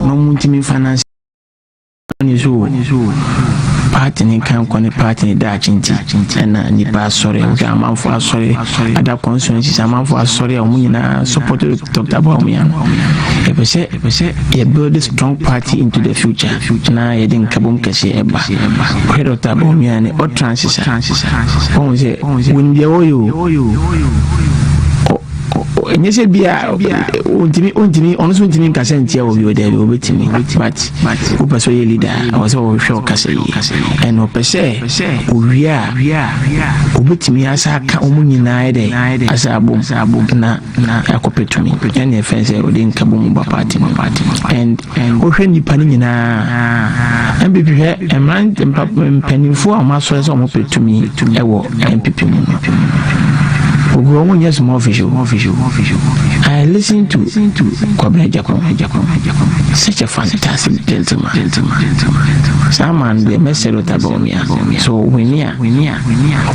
na ɔmo ntumi nfa nansi ne so o paati ne nkan kɔ ne paati ne daakye nti ɛna nipa asɔre ɛwɔ amanfo asɔre ada constituencies amanfo asɔre a wɔn nyinaa support dr bawumia no ɛpɛ sɛ ɛpɛ sɛ yɛ build a strong party into the future na yɛde nkabom kɛse ɛba ɔhwɛ dr bawumia ne ɔtransisa wɔn sɛ wɔn deɛ wɔyɛ o. ɛnyɛ sɛ bi a ɔntumi ɔntumi ɔno nso ntumi nkasa ntia wɔ bi wɔ daabi ɔbɛtumi but wopɛ sɛ ɔyɛ leader a ɔwɔ sɛ ɔhwɛ ɔkasa yi ɛna ɔpɛ sɛ owie a ɔbɛtumi asa aka wɔn nyinaa dɛ asa abom na akɔpɛ tumi ɛna ɛfɛn sɛ ɔde nkabom ba party no and Wohwɛ nnipa no nyinaa a, NPP hwɛ mmerante mpanimfoɔ a wɔasɔre sɛ wɔpɛ tumi wɔ NPP mu no. Ogu wɔn nyɛ small fish o. I listen to Kwabena Gyakon, such a fantastic gentleman. Saa man deɛ mɛsɛ do ta bawumia. So wini a,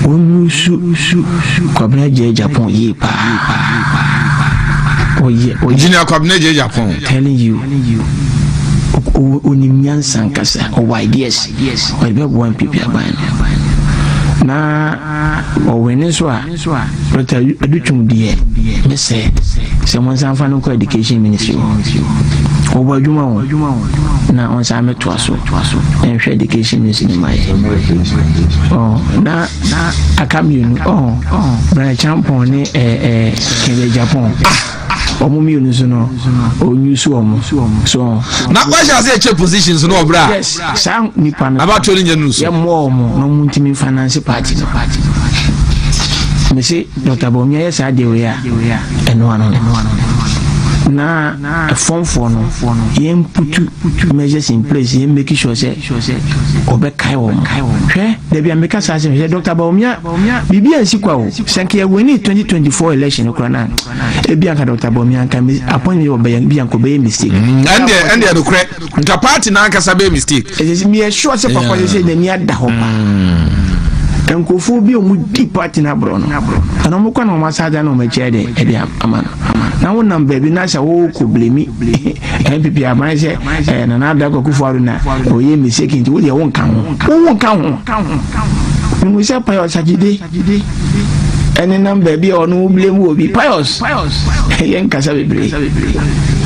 wɔn su Kwabena Gyakon yie paa. Engineer Kwabena Gyakon. Telling you onim nyansa nkasa ɔwɔ ideas ɔde bɛboa npp aban no na ɔwene nso a dɔkta adutwum deɛ ne sɛ sɛ mo nsa nfa no nkɔ education ministry hɔ ɔwɔ adwuma hɔ na ɔnsa amɛtoa so ɛnhwɛ education ministry no ma yɛ na aka mmienu ɔɔ brana champɔn ne ɛɛ kɛndɛ japan ah wɔn mmienu so no ɔnyu so wɔn so wɔn. na wahyɛ ase ɛkyɛ positions no ɔbra. yes saa nipa no abatoɔ no nyɛ nu so. yɛ mmoa wɔn na wɔn ntumi finance party no party no. mese dr bɔnmi ayɛ saa deɛ wei a ɛnoa no na ɛfɔmfoɔ no yɛn putu measures in place yɛn make sure sɛ ɔbɛkae wɔn hwɛ dabi ameka saa sɛ hwɛ dr bɔnmi a. Biribi ansi kwa o. Sɛ nka yɛ winii twenty twenty four election no koraa no a, ebi anka Doctor Bawumia anka mi appointment wɔ bɛyɛ bi anka ɔbɛyɛ mistake. Mm, ɛndeɛ ɛndeɛ nokorɛ nka party n'ankasa bɛyɛ mistake. Ɛsɛ sɛ meyɛ sure sɛ papa sɛ sɛ n'ani ada hɔ paa. Mm. Nkurɔfoɔ bi a wɔdi party no aborɔ no, ɛna wɔn kɔ na wɔn asa ada na wɔn akyerɛ de ɛde ama no. Na wonam baabi na sɛ wɔrekɔ blemi NPP aban sɛ ɛɛ nana adakɔ kufu ado na ɔyɛ mistake nti wodeɛ wonka ho. Wonka ho. ka ho. Mihu sɛ Pius Agyide nenam baabi a ɔno woblame wɔ bi. Pius, yɛn nkasa bebree.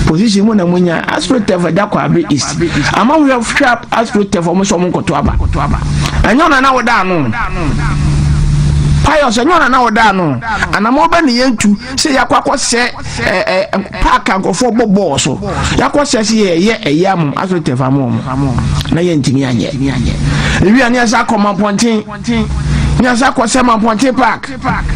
position mu na mo nya astrotef ɛda kwabre east ama hwɛ hwɛ astrotef ɔmo sɛ ɔmo nkɔto aba ɛnyɛ ɔna na ɔda ano pius ɛnyɛ ɔna na ɔda ano anam ɔbɛ ne yɛn tu sɛ yakɔ akɔ sɛ sɛ ɛ paaki nkurɔfoɔ bɔ bɔɔl so yɛakɔ sɛ sɛ yɛyɛ ɛyɛ amom aso tɛfa mu ɔmo na yɛntumi anyɛ ewi a ne yɛsa akɔ mampɔnten ne yɛsa akɔ sɛ mampɔnten park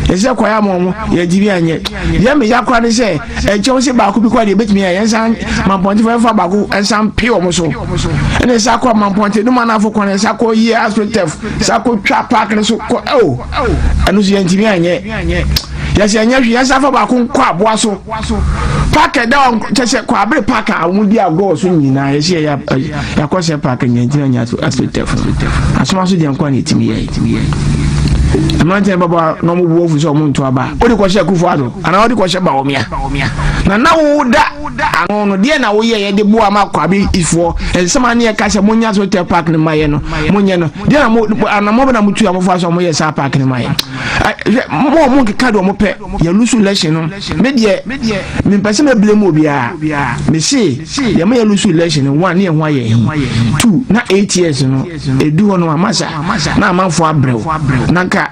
yɛsɛ kɔ yɛ amom yɛntumi anyɛ yɛn meyɛ akora ne sɛ ɛnkyɛw sɛ baako bi kɔ deɛ ebɛtumi ayɛ yɛnsa mampɔnten fɛnfa baako ɛnsa mpe ɔmo so ɛna yɛsa akɔ mampɔnten no ma n'afɔ kwan yɛsa akɔ yɛ aso tɛf sa akɔ twa park no so kɔ ɛwɔ ɛno so yɛntumi anyɛ Kyɛ sɛ ɛnyɛ hwee, yɛnsan fa baako nkɔ aboa so. Park a ɛda hɔ kyɛ sɛ Kwaabere Park a wɔdi agorɔ so nyinaa yɛhyɛ yɛakɔ sɛ park nyantina nya asotɛfo. Asoma so deɛ nkoa na ɛtumi yɛ. Mmeranteɛ baba na wɔn bu afu sɛ wɔn nto aba. Wode kɔhyɛ akufo ado anaa wode kɔhyɛ Bawumia? Na na woda ano no deɛ na woyɛ yɛde boa ma Kwabe ifoɔ nsɛm a ne yɛka sɛ monya asotɛ park no ma yɛ no monyɛ no deɛ na mo anamɔ bɛ na motu amofo asɔ moyɛ saa park no ma yɛ. hwɛ mo ɔmo nkeka deɛ ɔmo pɛ yɛ lusu election no me deɛ me mpɛ sɛ mɛbile mu obiara me se yɛ mo yɛ lusu election no one ne yɛ ho ayɛ he two na eight years no edu hɔ no amasa na amanfo abrɛw na nka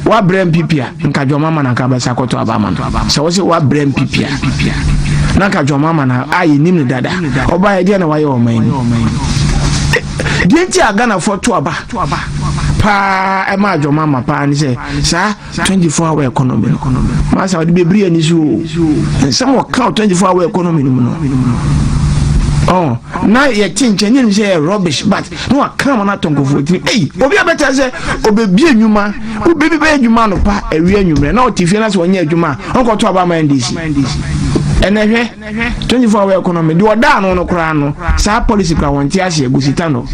wabrɛ mpp a nka dwɔma ama na nka abɛsa akɔtɔ aba ama no sɛ wɔsɛ wabrɛ mpp a na nka dwɔma ama na a yɛnim ne dada ɔba yɛ deɛ na wayɛ ɔman mu deɛ nti a ghanafoɔ to aba paa ɛma adwɔma ma paa ne sɛ saa 24 hour economy no masa wode bɛbiri ani so o nsɛm wɔka o 24 hour economy no mu no Oh, na yɛte nkyɛn ne nim sɛ yɛ rubbish but na waka ma no atɔ nkurɔfoɔ tirim ei obi a bɛtɛ sɛ ɔbɛbie nnwuma wobɛbi bɛyɛ adwuma no pa awie anwummerɛ na ɔte fie no sɛ ɔnyɛ adwuma a ɔnkɔto aba ma ndc ɛnɛ hwɛ twenty four hour economy deɛ ɔda ano no koraa no saa policy koraa wɔn ti aseɛ gusita no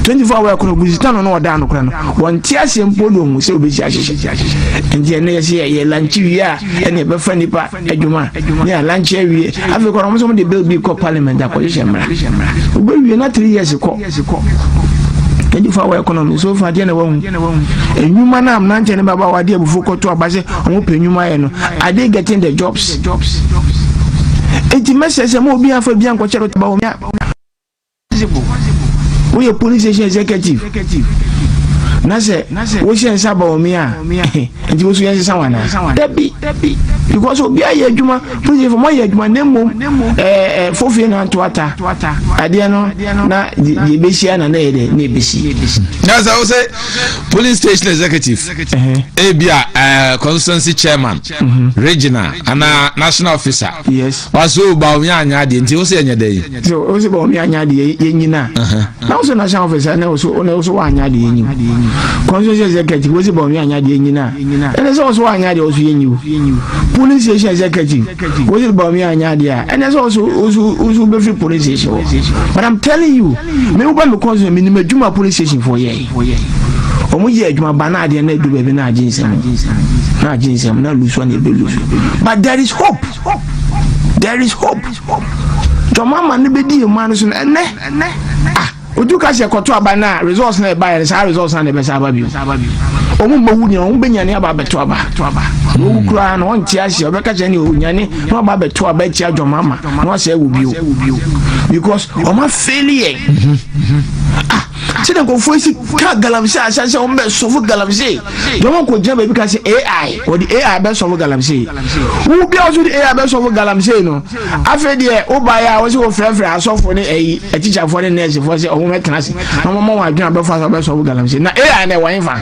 twenty four hour economy gusita no na ɔda ano koraa no wɔn ti aseɛ mpo de ohun sɛ obesi ahyehyɛ nti ɛnna yɛ sɛ yɛ lanchi wie a ɛna ɛbɛfa nipa adwuma ne yɛ lanchi awie afei kora wɔn nso wɔn de bill bi kɔ parliament akɔhyehyɛ mmara obewie na three years kɔ. Ɛsi kɔ. Ɛdi fa wɔ ɛkɔnɔmi so fa deɛ na wahu. Enyuma na mmeranteɛ ne baba wɔ adeɛ abufuo kɔto aba sɛ wɔn pɛ enyuma ayɛ no. Are they getting the jobs? Eti mɛsɛ sɛ mo obi afa bi ankɔkyɛrɛ taba wɔn ya. Woyɛ police station executive. Na sɛ wohyɛ nsa ba wɔn ya. Nti wosu yɛn sesa wɔn anaa? Dabi. Because obi ayɛ adwuma. Christianfoɔ mo ayɛ adwuma na mmom ɛɛ fofie na nto ata adeɛ no na deɛ ebehyia na na yɛ dɛ na ebesi. na sɛ wosɛ polling station executive ebi a ɛɛ constituency chairman mhm. regional ana national officer waso ba omi anya adeɛ nti wosɛ yɛ nyɛ dɛ yi. So o se bɔ mi anya de yɛ nyina. Na o so na san ofisa na o so na o so wa anya de yɛ nyi. Constituency executive o se bɔ mi anya de yɛ nyina. Ɛnɛ sɛ o so wa anya de o so yɛ nyi o. Polling station executive o se bɔ mi anya de a. Ɛnɛ sɛ o so o so o so be free polling station o. But I'm telling you, me wo ba me constituency me ni me dwuma polling station for yɛ. Omo yɛ adwuma ba na adeɛ na edu baabi na agye nsɛm. Na agye nsɛm na lusu na ebe lusu. But there is hope. There is hope. Dɔm ama no bɛdi yɛn man no so no ɛnɛ. Ah, otu ka sɛ yɛkɔto aba no a results na ɛbaeɛ no saa results na ɛbɛsa aba bio. Wɔn mmɛwu nyina wɔn bɛnyane aba abɛto aba. Na wɔwu koraa no wɔnte aseɛ wɔbɛka kyerɛ ne onyane na wɔaba abɛto aba atia dɔm ama na wɔasɛe wo bio. Because wɔn afeeli yɛn. Ah, sɛdeɛ nkurɔfoɔ si ka galamsey a asan sɛ wɔn bɛ sɔfo galamsey deɛ wɔn kɔ gyina baabi ka sɛ ai wɔde ai bɛ sɔfo galamsey wo bi a wɔso de ai bɛ sɔfo galamsey no afei deɛ wo ba yɛ a wɔsi wɔ frɛfrɛ asɔfo ne ɛyi atikyafoɔ ne nɛɛsifoɔ sɛ wɔn bɛ tena ase na wɔn ma wɔn adwene abɛfa sɛ wɔbɛ sɔfo galamsey na ai na ɛwɔ nfa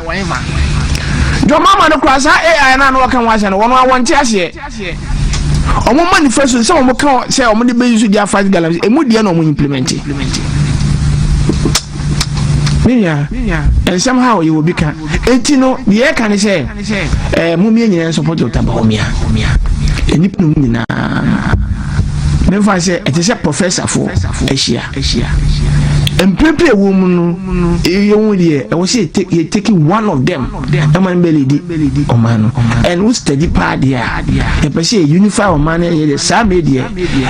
jɔn mama no kura saa ai na wɔka wɔn asɛ no wɔn a wɔn te aseɛ. Wɔn manifesto no sɛ wɔn ka sɛ wɔn de bɛyi so de afa galamsey emu deɛ na wɔn implementi. Ne nua nsɛm ha wɔyɛ obi ka eti no deɛ ɛka ne sɛ ɛɛ mo mmiɛ nyinaa nso pɔtɔ taba wɔn mia nnipa no mu nyinaa mefa sɛ ɛte sɛ professorfoɔ ahyia mprempren ɛwɔ mu no yɛn deɛ ɛwɔ sɛ yɛ take one of them. ɛma no bɛlidi ɔman no ɛn wo study paa deɛ a yɛpɛ sɛ yɛ unify ɔman no ɛnyɛ deɛ saa me deɛ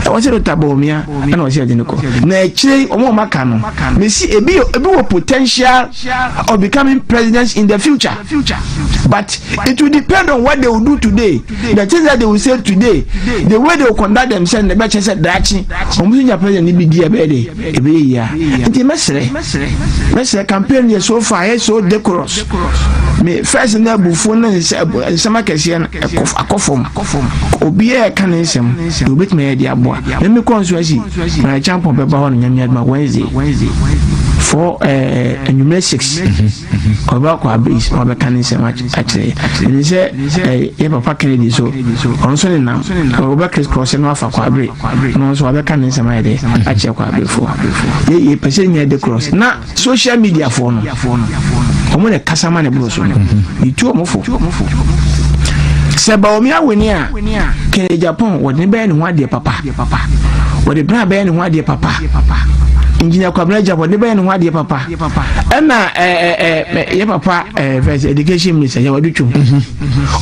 ɛwɔ sɛ dɔta bɔɔmia ɛna ɔsɛ yɛde no kɔ na akyire ɔmo ɔmo aka no mesi ebi ebi wɔ potential of becoming president in the future but it will depend on what they will do today the things that they will say today the way they will conduct themselves na ɛbɛkyɛ sɛ daakye ɔmo so nya president no bi di ɛbɛyɛ de ɛbɛyɛ yie a nti mɛsrɛ mɛsrɛ campaign yɛ so far yɛ so decorous me first na abufuo ne nsɛm akɛseɛ no akɔ fam obiara ɛka ne nsɛm na obɛtumi ayɛ de aboa na me kɔn so asi na kyampɔn bɛba hɔ no nyame adoma wednesday for eh, anwummerɛ six Ɔbɛkɔ abɛyi so abɛka ne nsɛm akyerɛ yɛ. Ɛne sɛ yɛ papa Kennedy so, ɔno nso ne nam. Ɔbɛ Chris Cross no afa kwabere. Na ɔno nso wabɛka ne nsɛm ayɛ dɛ akyerɛ kwaberefoɔ. Yɛ pɛ sɛ nya de cross. Na social media foɔ no, ɔmo na kasa ma ne boro so no. Yɛtu ɔmo fo. Sɛ Baomi awene a, Kennedy Japan wɔde ne bɛyɛ ne ho adeɛ papa. Wɔde bra bɛyɛ ne ho adeɛ papa. Engineer Kwabena Japan wɔde ne bɛyɛ ne ho adeɛ papa. ɛna yɛ papa first education minister yɛ wadu twom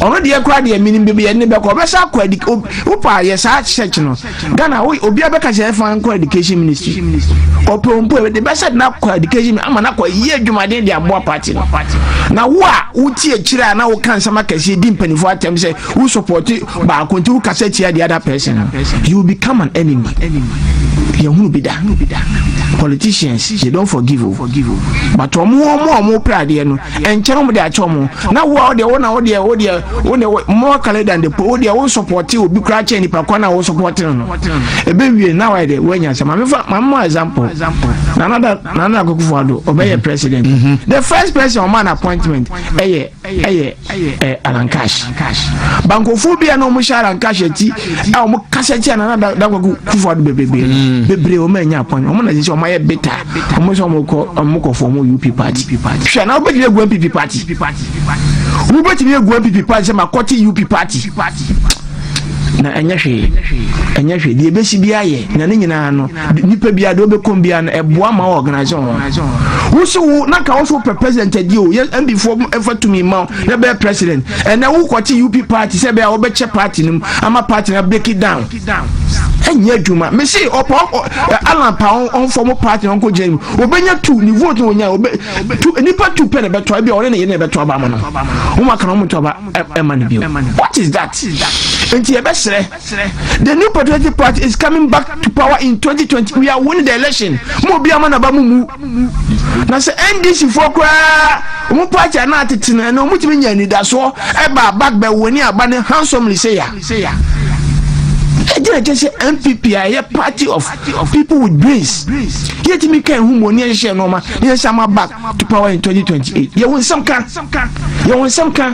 ɔno deɛ kora deɛ menim baabi yɛ ne bɛkɔ ɔbɛsa akɔ adi wopa yɛ saa church no ghana obi abɛka sɛ ɛfa nkɔ education ministry ɔpɛ mpo ɛde bɛsɛ na akɔ education ama no akɔ yie adwumaden de aboa party no na wo a wotie akyire a na woka nsɛm akɛseɛ di mpanimfoɔ atɛm sɛ wo support Baako nti wo kasa tia the other person no you will become an enemy. Yɛn hunu bi da. Politicians they don't forgive o. But wɔn wɔn a wɔn pɛ adeɛ no nkyɛn wɔn de akyɛ wɔn. Na wo a wɔdeɛ wɔn na wɔdeɛ wɔdeɛ wɔdeɛ more kale than the po wɔdeɛ wɔn support obi kura kyɛn nipa kwan na wɔn support no no. Ebe wie na wɔyɛ de wɔn nyɛ asɛm. Maame fa maame mu example. Nana da nana akokofo ado ɔbɛyɛ president. The first person wɔn an appointment ɛyɛ. ɛyɛ ɛyɛ alankash bankofoɔ bi a na wɔhyɛ alankash akyi a wɔn kasa kyia nana dakwaku kufu ado bebrebe mm. bebree wɔn anya apɔn wɔn na sisi wɔn ayɛ beta wɔn sɛ wɔn kɔ wɔn kɔ fɔm up party hwɛ na wobɛtumi agu npp party wobɛtumi agu npp party sɛ ma kɔte up party na ɛnyɛ hwee ɛnyɛ hwee deɛ ɛbɛsi bi ayɛ na ne nyinaa no nipa biara deɛ ɔbɛkɔm biara no ɛboa ma ɔɔganase ho wo se wo na ka wo so wopɛ president adi o yɛ mbifoɔ ɛfa tumi ma wo na bɛyɛ president ɛnɛ wo kɔte up party sɛ bɛyɛ a wɔbɛkyɛ party no mu ama party no break it down ɛnyɛ adwuma mese ɔpa alan pa ɔmfɔ mo party no ɔnkɔ gyina mu wɔbɛnya tu ne vote no ɔnya wɔbɛ tu nipa tu pɛ na ɛbɛtɔ ɛbi a ɔne ne yere na ɛbɛtɔ aba ama no wɔn aka na wɔn tɔ aba ɛma no bio what is that nti yɛbɛsrɛ Serɛ, The new patriotic party is coming back to power in 2020, we are winning the election, mo obi ama naba mo mu. Na sɛ NDC foɔ koraa, wɔn party a na atete no ɛnɛ wɔtumi nya anidasoɔ ɛba abak bɛ wone aba no handsomely sɛ ya. Ɛdi na kyɛ sɛ NPP a ɛyɛ party of people with brains yɛtumi ka ɛho mu ne yɛhyehyɛ nneɛma ne yɛsan ma back to power in 2028. Yɛwɔ nsɛm ka, yɛwɔ nsɛm ka.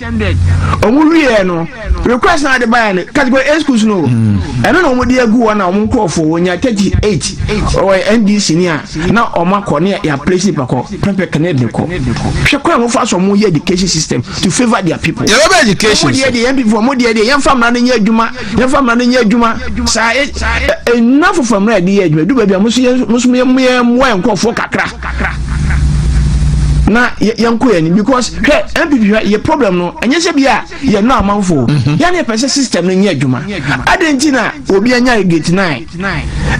attended ɔmo wieɛ no request na ade baeɛ no category A schools no hmm. ɛno na ɔmo de agu hɔ na ɔmo nkorɔfoɔ wɔnya 38 ɔwɔ NDC ni a na ɔmo akɔ ne yɛ place nipa kɔ pɛpɛ kane de kɔ hwɛ kwan a wɔfa so ɔmo yɛ education system to favour their people yɛrɛ bɛ education ɔmo deɛ deɛ yɛn people ɔmo deɛ deɛ yɛn fa mmara no nyɛ adwuma yɛn fa mmara no nyɛ adwuma saa e, e, e, nnafo fa mmara yɛ de yɛ adwuma edu baabi a mo so yɛ mo so yɛ mo yɛ mmoa nkorɔfoɔ kakra. kakra na yɛnkɔ yɛn anim because hwɛ npp hwɛ yɛ problem no ɛnyɛ sɛ bi a yɛ no amanfo mhm. yɛn yɛpɛ sɛ system no nyɛ adwuma adɛn nti na obi anya gate nine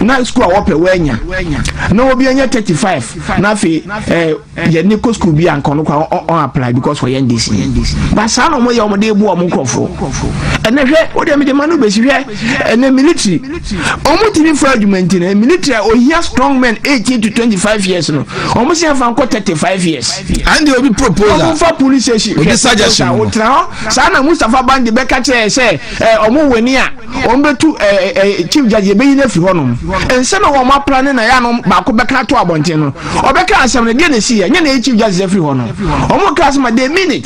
na school a wɔpɛ wɔanya na obi anya thirty five na afei ɛɛ eh, yɛn ne kɔ school bi a nkɔno kora ɔn apply because wɔyɛ ndc ba saa na wɔyɛ wɔn de ebu wɔn nkorɔfo ɛnɛ hwɛ o deɛ mi de ma no besi hwɛ ɛnɛ military ɔmo tumi fɔ adwuma nti no military a ohia strong men eighteen to twenty five years no ɔmo si afa nkɔ thirty five years. and obi proposal ɔmo nfa police station obi suggestion ɔmo tena hɔ saa na mustapha bandi bɛka kyerɛ sɛ ɛɛ ɔmo wɔ ni a ɔmo bɛ tu ɛɛ ɛɛ chief judge yɛ bɛ yi n'efiri hɔ nom nsɛm na wɔn apra ne na yɛ ano baako bɛka ato abɔnten no ɔbɛka asɛm no deɛ na esi yɛ nye na yɛ chief judge efiri hɔ no ɔmo ka asɛm a they mean it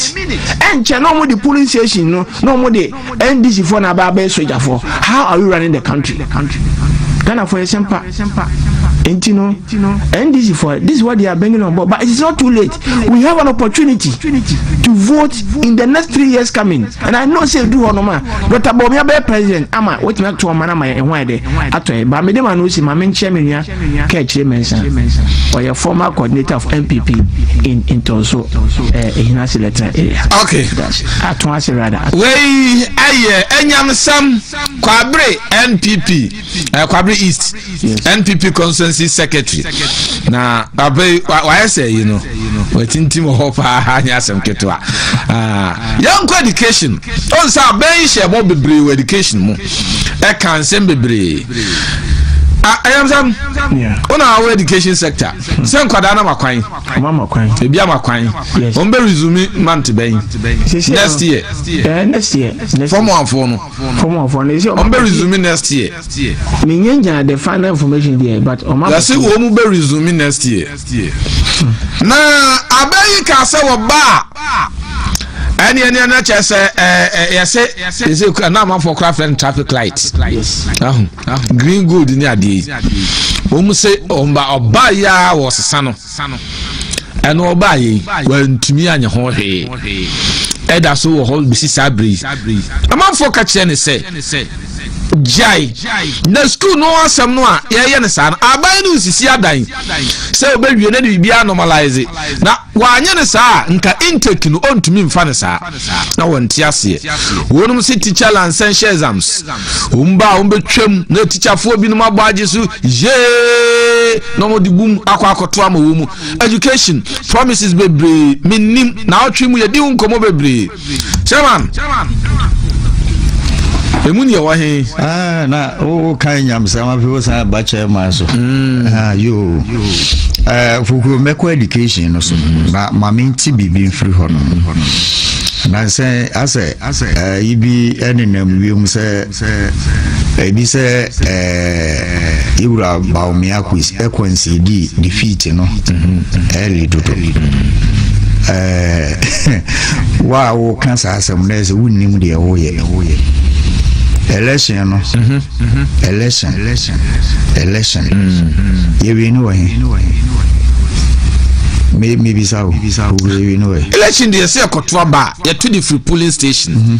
ɛnkyɛn na ɔmo de police station no na ɔmo de. ndc foɔ na abaa bɛyɛ sogyafoɔ how are we running the country ghanafoɔ yɛ sɛmpa nti no ndc foɔ this is what they are bringing on board but it is not too late we have an opportunity to vote in the next three years coming and i know say edu hɔ nom a dr bawumia bɛyɛ president ama wotumi ato ɔman ama yɛ ɛho ayɛ dɛ atɔ yɛ ba mede ma no si ma menkyerɛ me nua ka akyire mɛnsa ɔyɛ former coordinator of npp in ntɔnso eh, ehina selector area okay ato ase rada wei ɛyɛ ɛnyamsam kwabere npp eh, kwabere east npp constituency secretary na abe wayɛ sɛ yi no watintim wɔ hɔ paa nyɛ asɛm ketewa ah, yɛnkɔ education ɔnsa abɛn hyɛ bɔ bebree wɔ education mu ɛka nsɛm bebree ɛyɛmsɛm wona awɔ education sector sɛ nkwadaa no makwan ebi amakwan wɔn bɛ resume month bɛn next year next year fɔm anfoɔ no fɔm anfoɔ no ɛsɛ wɔn bɛ resume next year menyɛ nya the final information deɛ but wɔn yɛsɛ wɔn bɛ resume next year Na abɛ yi ka sɛ wɔ ba a ɛne ɛne ɛna kyɛ sɛ yɛse yɛse kura na amanfoɔ kura fɛn traffic light ahu green gold ne adeɛ yi wɔn se wɔn ba ɔba yi a wɔ sesa no ɛna ɔba yi wɔntumi anyɛ ho hwee ɛda so wɔ hɔ besi saa bere yi amanfoɔ ka kyerɛ ne sɛ gyae na sukuu no asɛm no a yɛyɛ ne saa no aban no nsisi adan. sɛ obewie na de biribiara normalise na wanyɛ no saa a nka intake no ɔntumi mfa no saa na wɔnte aseɛ wɔnom se teacher lansɛnhyɛ exams wɔn ba a wɔbɛtwam na teacherfoɔ binom abɔ agye so yee na wɔde bum akɔ akɔto ama wɔ mu education promises bebree mennim na ɔtwe mu yɛdi ho nkɔmmɔ bebree chairman ɛmu ne ɛwɔ he ah, na woka nyamsɛm afei wo san ba chairman so mm. ah, yo eh, fokuro mɛkɔ education no so mm. na ma mente biribi mfiri hɔ no nansɛ asɛ asɛ eh, yi bi ɛnenam wiem sɛ Ɛdi sɛ yɛn wura Bawumia Kwansi di defeat no early dodo. Wo a woka saa asɛm no sɛ wonnim deɛ woyɛ. Election no, election, election, yɛwie ne wɔ he? mebisa o election deɛ sɛ ɛkɔto aba a yɛto de firi polling station mhm.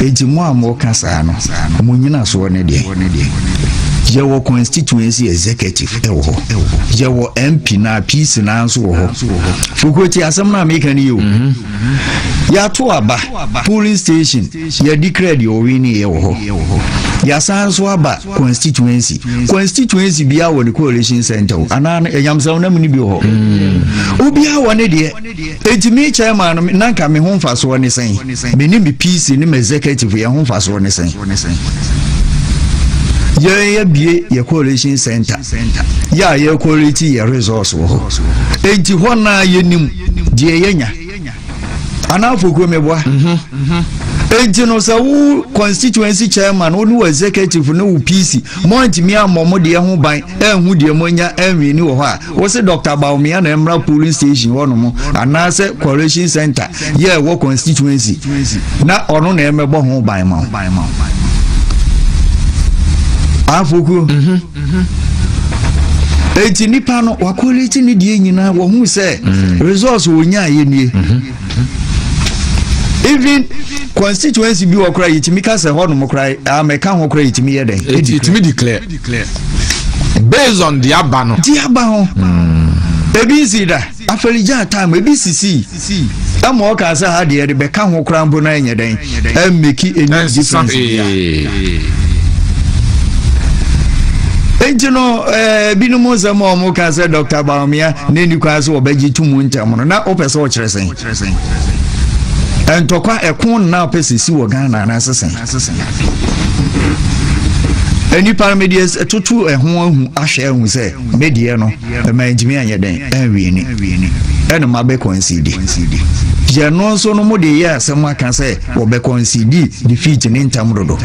Enti mo a moka saa no, mo nnyinasoɔ ne deɛn? Yɛwɔ constituency executive ɛwɔ hɔ yɛwɔ MP na PC na nso wɔ hɔ fokuro ti asɛm no a meka no yɛ o mhm. yɛato aba polling station yɛde kra deɛ ɔwe ne yɛ wɔ hɔ yɛasan nso aba constituency constituency biara wɔ ne coalition center o anaa ɛnyamsɛm no mu no bi wɔ hɔ mhm. obiara wɔ ne deɛ Enti me chairman no, na nka me ho mfasoɔ ne sɛn? Me ne me PC ne m'executive, yɛn ho mfasoɔ ne sɛn? Yɛn yɛbie yɛ coalition center, yɛ a yɛ coalition yɛ resource wɔ hɔ. Enti hɔ naa yɛnim deɛ yɛnya. Anaa fokuro meboa? Enti no sɛ wo constituency chairman, wo ne wo executive ne wo PC, moantumi ammɔ mo deɛ ho ban, ɛnhu deɛ moanya ɛnwini wɔ hɔ a, Wose Doctor Bawumia na ɛmmra polling station hɔnom anaasɛ coalition center yɛ ɛwɔ constituency na ɔno na ɛmmɛbɔ ho ban ma wo. Afokuo. Mhm. Mhm. eti nipa no wakoliti ne deɛ nyinaa wɔhu sɛ mm. resource wɔnya ayɛ nie mm-hmm. even constituency bi wɔ kora yɛtumi ka sɛ hɔ nom kora amɛka ho kora yɛtumi yɛ dɛn yɛtumi declare Based on di aba no. Di aba ho. Ebi nsi da. Afɛligyaa time ebi sisi. Ɛma ɔka sɛ ha deɛ de bɛka ho koraa mpo na ɛnyɛ dɛn. Ɛmmeki ɛnyɛ difference bia. Enti no ɛɛ eh, binom nsɛm a wɔn ka sɛ Dr. Baumia na ɛni kwan sɛ wɔbɛgye to mu ntɛm no na wopɛ sɛ wɔkyerɛ sɛn. Ntɔkwa ɛko nna wopɛ sɛ si wɔ Ghana anaasɛ sɛn. asesa nnipa no mede atoto ɛho ahu ahwɛ ahu sɛ medeɛ no ɛma ntumi anyɛ dɛn anwieni ɛne ma bɛkɔ nsidi yɛ no nso no mode yɛ asɛm aka sɛ wɔbɛkɔ nsidi defeat ne ntam dodo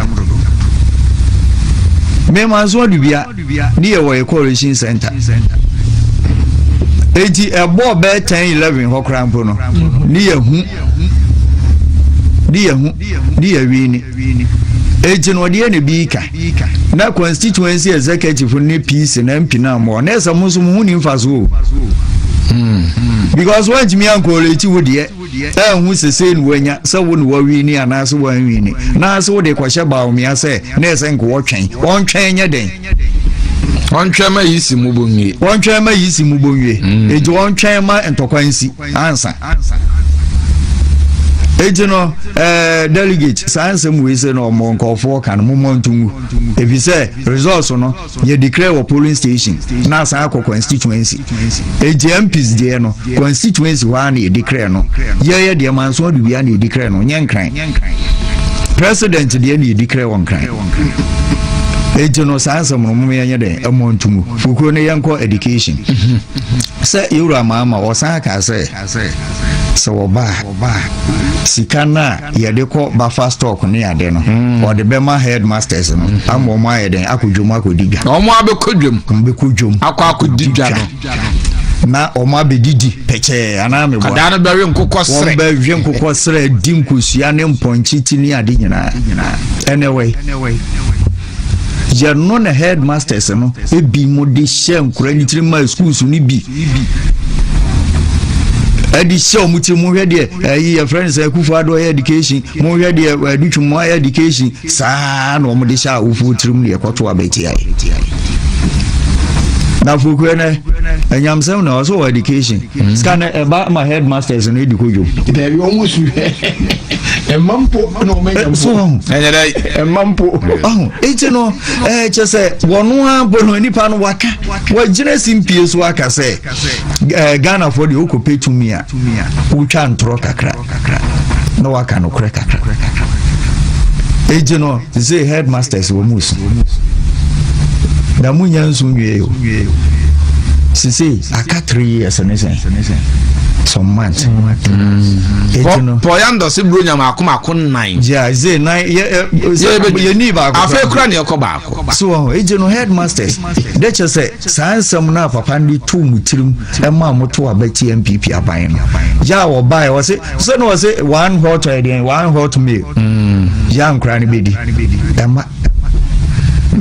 mema nso adubia ne yɛ wɔ ɛcoration center enti ɛbɔɔ bɛɛ 10 11 hɔ koraa mpo no ne yɛhu ne yɛhu di awi ni. Eti no ɔdeɛ ne bii ka. Na constituency executive no ne PC na MP na mmoa. Na ɛsɛ mo nso mo ho ni mfaso o. Hmm. Because wantumi ankooleti wo deɛ. Ɛnhu sesei no wanya sɛ wo ne wawi ni anaasɛ wanwi ni. Na ase wode kɔhyɛ baomea sɛ na ɛsɛ nka wɔtwɛn. Ɔntwɛn nyɛ dɛn? Ɔntwɛn ma yi si mu bonwie. Ɔntwɛn ma yi si mu bonwie. Eti ɔntwɛn ma ntɔkwa nsi. ansa eti no ɛɛ eh, delegate saa nsɛm wei sɛ na ɔmo nkɔfoɔ ka no mo mɔ nto mu efi sɛ results no yɛ declare wɔ polling station na asan akɔ constituency eti mps deɛ no constituency hɔ a na yɛ declare no yɛyɛ deɛ manso ɔde wia na yɛ declare no nyɛ nkran president deɛ na yɛ declare wɔ nkran eti no saa nsɛm no mo yɛ nyɛ dɛ ɛmɔ nto mu fukuro no yɛnkɔ education. Sɛ yɛn Wura maa ma wɔsan kaa sɛ, sɛ wɔba a, sika no a yɛde kɔ bafa stock ne ade no, wɔde bɛma headmasters no ama wɔn ayɛ dɛn akɔ dwom akɔdi dwa. Na wɔn abɛkɔ dwom. Wɔn bɛkɔ dwom. Akɔ akɔdi dwa no. Na wɔn abɛdidi pɛkyɛɛ anaa meboa. Kadaa no bɛwe nkokɔ serɛ. Wɔn bɛwe nkokɔ serɛ, di nkosua ne mpɔnkye ti ne ade nyinaa. Ɛnɛ wɛ. yɛno na headmasters no ebi mo de hyɛ nkora ne tirim ma schools no bi ɛde hyɛ wɔn tirim mohwɛ deɛ ɛyi yɛ friends akufo ado ɛyɛ education mohwɛ deɛ ɛdutwi mu ɛyɛ education saa na wɔn de hyɛ awofo tirim deɛ ɛkɔto abɛti ayɛ na fokura nɛ ɛnyamsɛm na ɔsɛ wɔ education. Hmm. sika no ɛba ma headmasters no ɛdi kodwo dabi ɔmo su ɛma mpo na ɔmo anya mpo ɛnyɛ dɛ ɛma mpo ɔho eti no ɛɛ kyɛ sɛ wɔn a bɔ no nipa no waka wɔgyina si mpie so aka sɛ ɛɛ ghana fo deɛ okɔ pe tumi a wotwa ntorɔ kakra. kakra na waka nokorɛ kakra ɛgye no te sɛ headmasters wɔ mu su na mu nya nsu nwie o sise aka three years ne sɛn some months ɛgye no pɔya ndɔse buro nya maako maako nnan gya ze nan yɛni baako afei kora ne ɛkɔ baako so ɛgye no headmasters dɛ kyɛ sɛ Saa nsɛm no a papa no de too mo tirim maa motow aba tia NPP aban no. Yɛ a wɔbaeɛ, wɔse, sɛ na wɔse one hot ɔyɛ deɛn, one hot meal. Mm, yɛ a nkora no bɛdi. Ɛma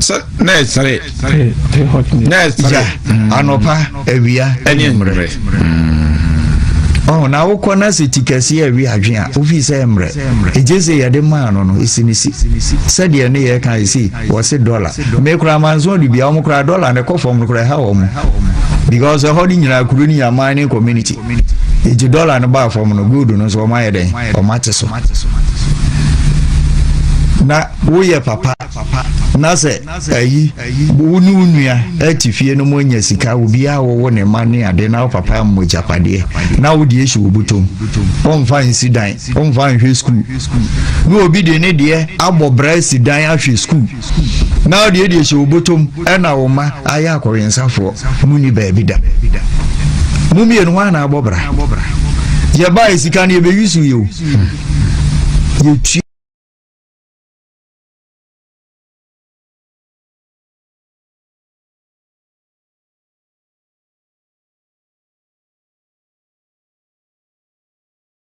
sɛ na ɛsere na ɛsere mm. anɔpa awia ɛne mmerɛ mm. ɔho na wokɔ na sɛ ti kɛseɛ awi adwen a wofii sɛ mmerɛ ɛgye sɛ yɛde maa no no ɛsi ne si sɛdeɛ ne yɛka ɛsi wɔse dɔla me koraa manso ɔde bia wɔn koraa dɔla ne kɔ fam no koraa ɛha wɔn because ɛhɔ no nyinaa kuro ne yɛ mining community eti dɔla no baa fam no gold no nso wɔn ayɛ dɛn wɔn ate so na woyɛ papa na sɛ ayi wo ne wo nua ati fie no mu anya sika obiara wɔwɔ ne ma ne ade na wo papa mmɔ gyapadeɛ na wode asi wo botom ɔmfa nsi dan Ɔmfa nhwɛ sukuu. Na obi de ne deɛ abɔ bra asi dan ahwɛ sukuu. Na deɛ deɛ hyɛ obotom ɛna wo mma ayɛ akɔwensafoɔ. Mo ni baabi da. Mo mmienu hwan na abɔ bra? Yɛ baa esika no yɛ bɛ yusu yɛ o. Yɛ twi.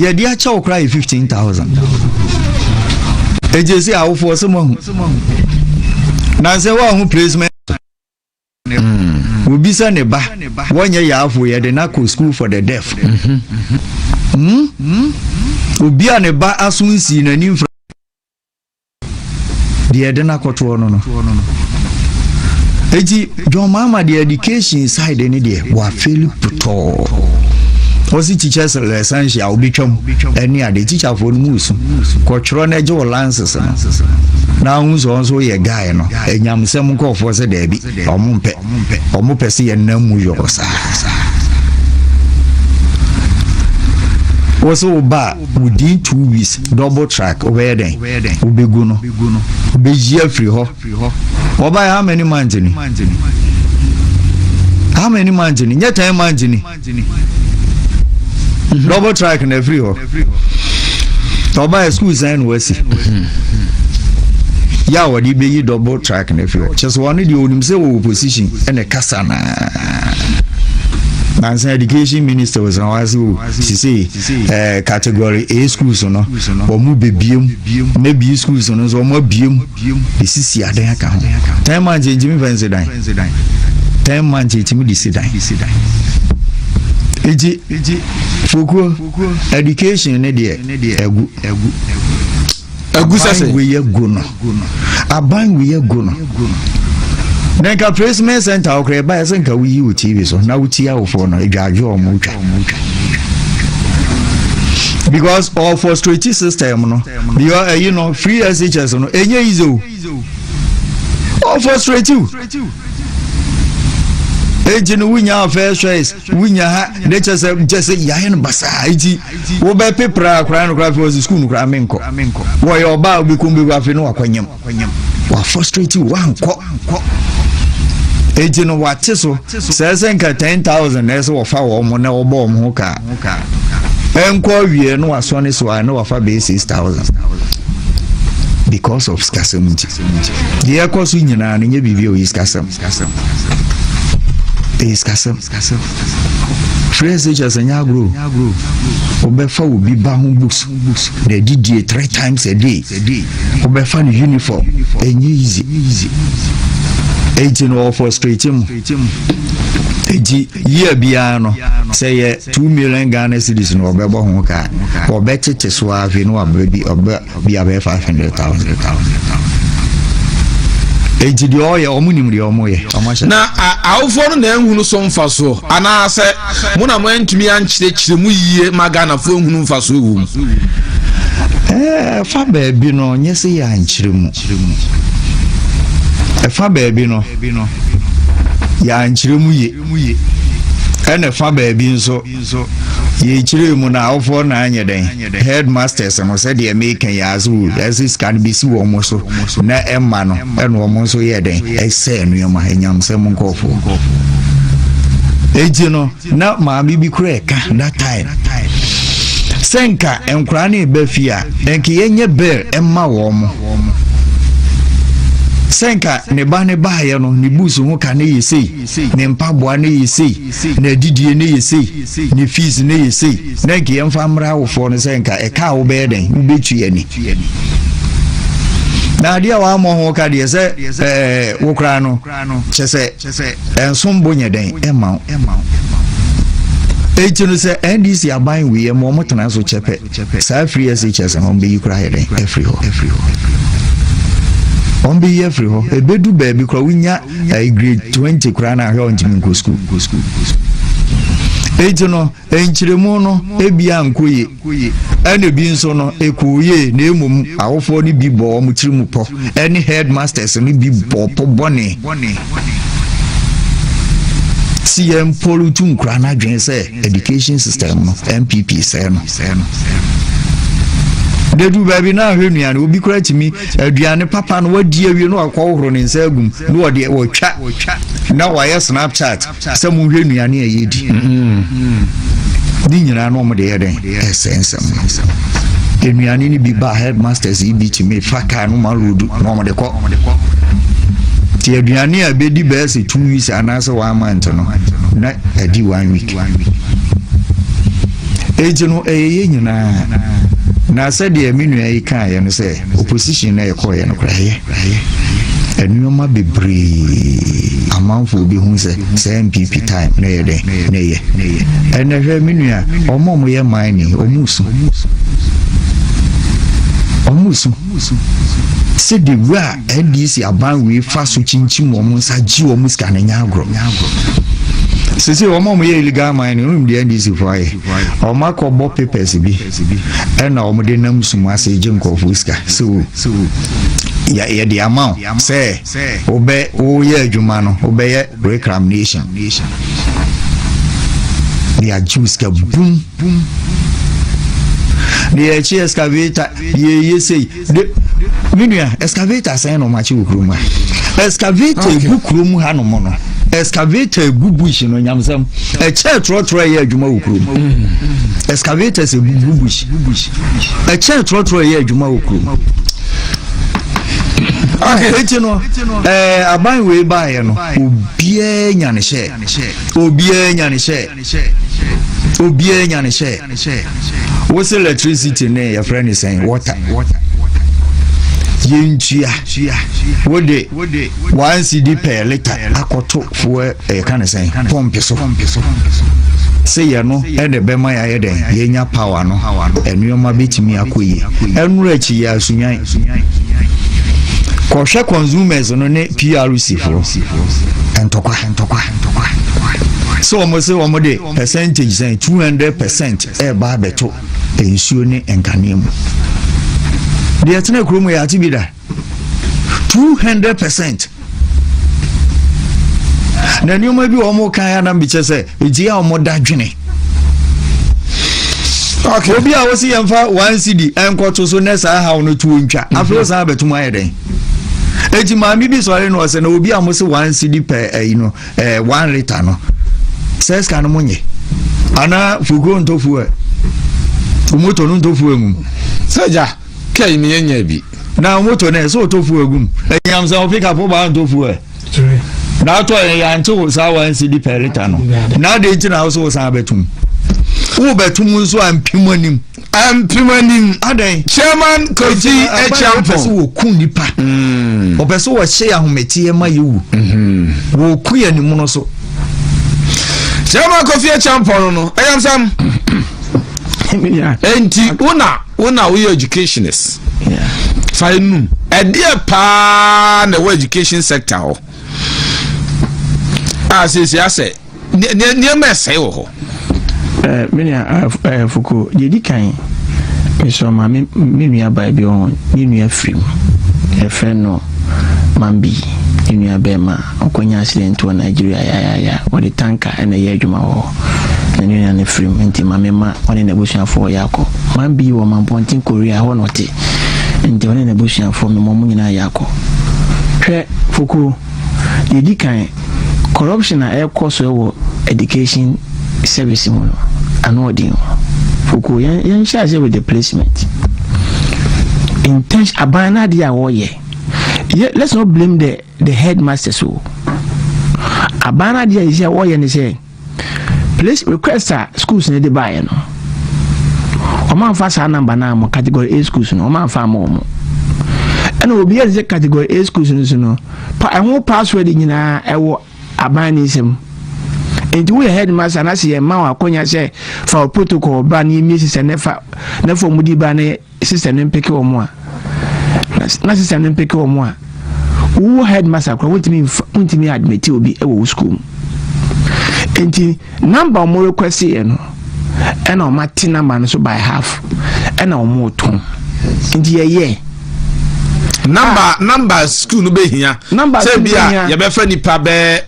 yɛde akyɛ wo koraa yɛ 15000 ɛgye sɛ awofoɔ sɛ moahu nansɛ woahu placement obi sɛ ne ba wɔnyɛ yaafo yɛde no akɔ school for the deaf obi a ne ba aso nsii n'ani mfra deɛ ɛde no akɔtoɔ no no eti john mahama deɛ education side ne deɛ wafeli putɔɔ ɔsi teachers lessons a wobɛtwam ɛne ade teacherfoɔ no mu su kɔtwerɛ no agye wɔ lances no na ahu sɛ ɔnso yɛ guy no ɛnyamsɛm nkɔɔfoɔ sɛ daabi ɔmo mpɛ ɔmo pɛ sɛ yɛnam mu yɔrɔ saa wɔ sɛ wo ba a within two weeks double track wobɛyɛ dɛn wobɛgu no wobɛyi afiri hɔ wɔbaɛ how many months ni how many months ni nyɛ ten months ni mhm. double track na afiri hɔ wɔbaɛ school sɛn na wasi yɛ a wɔde bɛyi double track na afiri hɔ kyɛ sɛ wɔne deɛ ɔnim sɛ wɔwɔ position ɛne kasa naa nansa education minister wɔsan wɔase o sisei eh, category A schools no, wɔn bebie mu, na B schools no nso wɔn abie mu, de sisi adan aka ho. Ten months yɛn ntumi fɛn si dan. Ten months yɛn ntumi de si dan. Eti, fokuro, education ne deɛ, ɛgu. Aban wei yɛ goro no. Aban wei yɛ goro no. Na nka placement center okura ɛba ɛsɛ nka woyi wo TV so na wotie awofoɔ no adwaadwo a wɔn twa. Because ɔfɔ straight system no. Because ɛyi no free SHS no enye yize o. ɔ frustrate you eti no wunya first choice wunya ha ne kyɛ sɛ kyɛ sɛ yɛayɛ no basaa eti wobɛ pe pra akora no kora fi wɔsi sukuu no kora me nkɔ wɔyɛ ɔbaa obi kɔn bɛgu afei no wakɔ nyam wa frustrate you wankɔ eti no wate so sɛ sɛ nka ten thousand na ɛsɛ wɔfa wɔn na wɔbɔ wɔn ho kaa. ɛnkɔ awie no wasɔne so a na wafa bɛyɛ six thousand because of sikasɛm nti deɛ ɛkɔ so nyinaa no nyɛ biribi a ɔyɛ sikasɛm ɛyɛ sikasɛm frɛ sɛ kyɛ sɛ nyɛ agorɔ wobɛfa wo bi ba ho books na ɛdidie three times a day wobɛfa no uniform ɛnyɛ easy ɛnti no ɔfɔ straight mu ɛnti Year biara no, sɛ ɛyɛ two million Ghana cedis na wɔbɛbɔ ho ka a, wɔbɛtete so ara afei na wɔabrɛ bi ɔbɛ bi abɛyɛ five hundred thousand. nti deɛ ɔyɛ ɔmo nim deɛ ɔmo yɛ ɔmo ahyɛ. na awofoɔ no na ehunu so mfasoɔ anaasɛ mo na mo antumi ankyerɛkyerɛ mu yie ma ghanafoɔ ehunu mfasoɔ wɔ mu. ɛɛ fa baabi no nyɛ sɛ yɛ ankyerɛ mu ɛfa baabi no. baabi no, yɛankyerɛ mu ye, ɛna fa baabi nso, yɛkyerɛɛ mu no awofoɔ no anyɛ dɛn, headmasters no, sɛdeɛ meka yi ara so, ɛse sika no bɛsi wɔn so, na ɛmma no, ɛna wɔn nso yɛɛ dɛn, ɛsɛɛ nneɛma, anyamsɛm nkorɔfoɔ. Enti no. Na maame bi koraa ɛka that time sɛ nka nkwaraa no reba fie a nka yɛnyɛ bear mma wɔn sɛ nka ne ba ne baayɛ no ne bus ho ka ne yɛ sei ne mpaboa ne yɛ sei na adidie ne yɛ sei ne fees ne yɛ sei na nka yɛmfa mmra awofoɔ no sɛ nka ɛka a wobɛyɛ dɛn wobɛtua ani na adeɛ a wɔammɔ ho ka deɛ sɛ ɛɛ eh, wo koraa no kyɛ sɛ Ɛnsom bo nyɛ dɛn mma wo. Enti no sɛ NDC aban wieɛ ma wɔn tena so kyɛ pɛ, saa free SHS no wɔn bɛyi koraa ayɛ dɛn afiri hɔ. Wɔn bɛyi afiri hɔ. Ɛbɛdu baabi koraa wonya eh, grade 20 koraa na ahwɛ a wɔntumi nkɔ sukuu. Enti no Nkyerɛmu no ebia annkɔ yie, ɛna ebi nso no ɛkɔɔ yie na mmom awofoɔ no bi bɔɔ wɔn tiri mu pɔ ɛne headmasters no bi bɔɔ pɔ bɔne si yɛn mpo retu nkura no adwene sɛ education system no npp sɛɛ no dedu baabi na ahwɛ nnuane obi kora tumi aduane papa no wadi awie na wakɔhohoro ne nsa agum na wɔde wɔtwa na wɔayɛ snapchat Sɛ monhwɛ nnuane a yɛdi ne nyinaa na wɔde yɛ dɛn ɛsɛ nsɛm no nnuane no bi ba headmasters yi bi tumi fa kaa no ma road na wɔde kɔ nti aduane a bɛdi bɛyɛ sɛ two weeks anaasɛ one month no na adi one week enti no ɛyɛ yɛ nyinaa na sɛdeɛ me nua yi kaeɛ no sɛ Opposition na yɛkɔɔeɛ no koraa yɛ nnoɔma bebree amanfoɔ bɛhu sɛ saa NPP time na yɛ dɛn na ɛyɛ ɛnɛ hwɛ me nua wɔn a wɔyɛ mining wɔn su wɔn su sɛ de wura NDC aban wei fa so kyinkyim wɔn nsa gye wɔn sika no nyɛ agorɔ sese wɔn a wɔyɛ illegal mining wɔn mu deɛ NDC fo ayɛ wɔn akɔbɔ papers bi. bi na wɔde nam sum ase gye nkurɔfoɔ sika sɛ o yɛde ama wo sɛ wobɛ woyɛ adwuma no wobɛyɛ reclamation de agye wo sika bum na yɛakyi excavator yɛyɛ sei me nua excavator sɛn na ɔmo akyi wɔ kurom ha excavator egu kurom ha nom no excavator egu bush no nyamsɛm ɛkyɛ trɔtrɔ ɛyɛ adwuma wɔ kurom mm. excavator sɛ egu bush ɛkyɛ trɔtrɔ ɛyɛ adwuma wɔ kurom eti no ɛɛ aban wei baayɛ no obiara nya ne hyɛ obiara nya ne hyɛ. Obiaa nya ne hyɛ Wo se electricity ne yɛfrɛ ne sɛn water yɛntua wode one cd per liter akɔto foɔ ɛka eh, ne sɛn pɔmpe so sɛ yɛno ɛde bɛma yɛayɛ dɛn yɛnya power no nneɛma bɛtumi akɔ yie ɛnora akyi yɛ asunwan kɔhwɛ consumers no ne prc foɔ ntɔkwa sɛ wɔn sɛ wɔn de percentage sɛn two hundred percent ɛreba eh, abɛto nsuo ne nkanea mu deɛ ɛtena kurom yɛ ate bi da two hundred percent na nneɛma bi wɔn kan ya nam bi kyɛ sɛ egye a wɔn da dwene. obi a wosi yɛn fa one cd nkɔto so ne saa ha no tuo ntwa mhm. afei san abɛtum ayɛ dɛn. eti maame bi sɔre no ɔsɛ na obi a mo se one cd pɛ ɛyi no ɛɛ one litre no sɛ sika no mo nye ana fukuo ntɔ fuel wɔn tɔ no ntɔ fuel mu. sɛgya kɛyi mi yɛ nya bi. na wɔn tɔ no yɛ sɛ ɔtɔ fuel gum ɛnyam sɛ ɔfi kapɔ baa ntɔ fuel na atɔ yɛ yante wo saa one cd pɛ litre no na adi nti na ɔsɛ ɔsan abɛtum wo bɛtum nso a mpim anim. mpimanim chairman kɔgyi akyampɔn sɛ wɔku nnipa mm. ɔpɛ sɛ wɔhyɛ yɛ ahometeɛ ma yɛwu mm-hmm. wɔku yɛ animono so chairman kɔfi akyampɔn no no ɛyamsam nti wona wona woyɛ educationist fa enum ɛdeɛ paa na ɛwɔ education sector hɔ a sɛsi asɛ nneɛma ɛsɛe wɔ hɔ eh, me nua ah, eh, fuko deɛ di kan mesrɛ ma me nua baa bi ɔho ne nua firim ɛfrɛ no mambi ne nua bɛrima ɔkɔnya accident wɔ nigeria yayaya wɔde tanka ɛna ɛyɛ adwuma wɔ hɔ na ne nua no firim nti ma mema ɔne n'abusuafoɔ yɛ akɔ mambi wɔ mampɔnten korea hɔ na ɔte nti ɔne n'abusuafoɔ mema ɔmo nyinaa yɛ akɔ hwɛ fukuo Yɛdi kan, corruption a ɛrekɔ so wɔ education service mu no, ano ɔden o. Foko, yɛn yɛnhyɛ aseɛ with the placement. Intention, aban no adeɛ a wɔyɛ. Yɛ, let's not blame the, the headmasters o. Aban no adeɛ a yɛhyɛ wɔyɛ ne sɛ, Please request a schools no de baeɛ no wɔn amfa saa namba no ammɔ category A schools no wɔn amfa ammɔ wɔn ɛna obi yɛ sɛ category A schools no so no pa ɛho password nyinaa ɛwɔ aban ne nsam nti woyɛ headmaster anaasɛ yɛn mma wɔn akɔnya sɛ fa protocol ba ne yɛmie sisa ne fa ne fam di ba ne Sister no mpeke wɔn a, na sister no mpeke wɔn a, wo wo headmaster koraa wontumi nfa wontumi admit obi wɔ wo school mu. Nti number wɔn request yɛ no, ɛna wɔn ate number no so by half, ɛna wɔn retɔn. Nti yɛyɛ. Number ah. number school no bɛ hia. Number school no bɛ hia. Sɛ bi a yɛbɛfɛ nipa bɛɛ.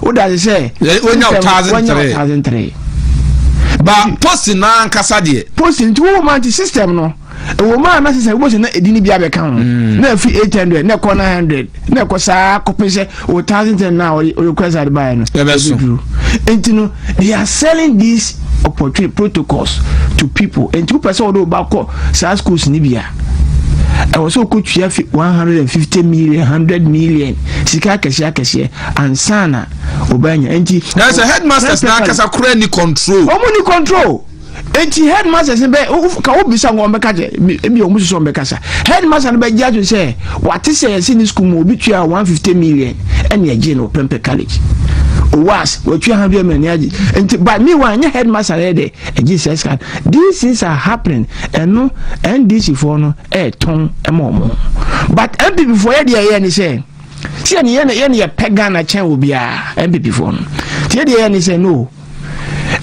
wodagye sɛ wonya ɔtaadze ntere ɔtaadze ntere ba posi n'ankasa deɛ posi nti wo ma nti system no ɛwɔ mu a na sɛ wobɛsɛ na ɛdi no bi abɛka ho mm. na ɛfiri 800 na ɛkɔ 900 na ɛkɔ saa kɔpɛ sɛ wɔ 1010 no a ɔrequest ade baeɛ no ɛbɛduru nti no they are selling these opportunity protocols to people nti wopɛ sɛ wode woba kɔ saa schools no bi a ɛwɔ sɛ wokɔtua fi 150 million 100 million sika akɛseɛ akɛseɛ ansa na ɔbɛnya nti. na sɛ headmasters na akasa kura ni control. wɔn ni control nti headmasters bɛ ka wo bisa wɔn bɛ kasa ebi wɔn soso wɔn bɛ kasa headmaster no bɛ gye ato sɛ wate sɛ yɛsi ne sukuu mu obi tua one fifty million ɛna ɛgye no pɛmpɛ college was wɔtua hundred million ne agye nti by me wa nye headmaster yɛ dɛ ɛgye sɛ sika these things are happening ɛno ndc foɔ no ɛɛtɔn ɛma wɔn but npp foɔ yɛ deɛ ɛyɛ ne sɛ. tiɛ ne yɛn yɛn yɛ pɛ ghana kyɛn obiara npp foɔ no tiɛ deɛ yɛn ne sɛ no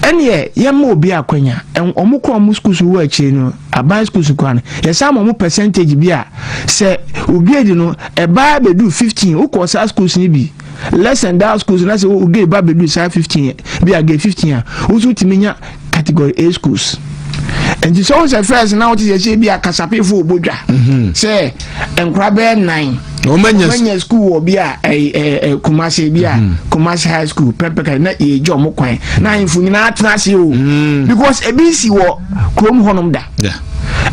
ɛneɛ yɛn ma obi akwanya wɔn kɔ wɔn sukuu so wɔ akyire no aban sukuu so kwan yɛsan ma wɔn percentage bi a sɛ ograde no ɛbaa bɛdu fifteen wokɔ saa sukuu so bi less than that sukuu so na sɛ ograde ba bɛdu saa fifteen bi a grade fifteen a wosu tumi nya category A schools nti sɛ ɔsɛ fɛs na ɔte sɛ sɛ bi a kasapefo ɔbɔ dwa mhm. sɛ nkora bɛyɛ nan ɔmanya school wɔ bi a kumase bi a mhm. kumase high school pɛmpɛka na yɛgya ɔmo kwan na ahemfo nyinaa tena ase o mhm. because ebi si wɔ kurom hɔnom da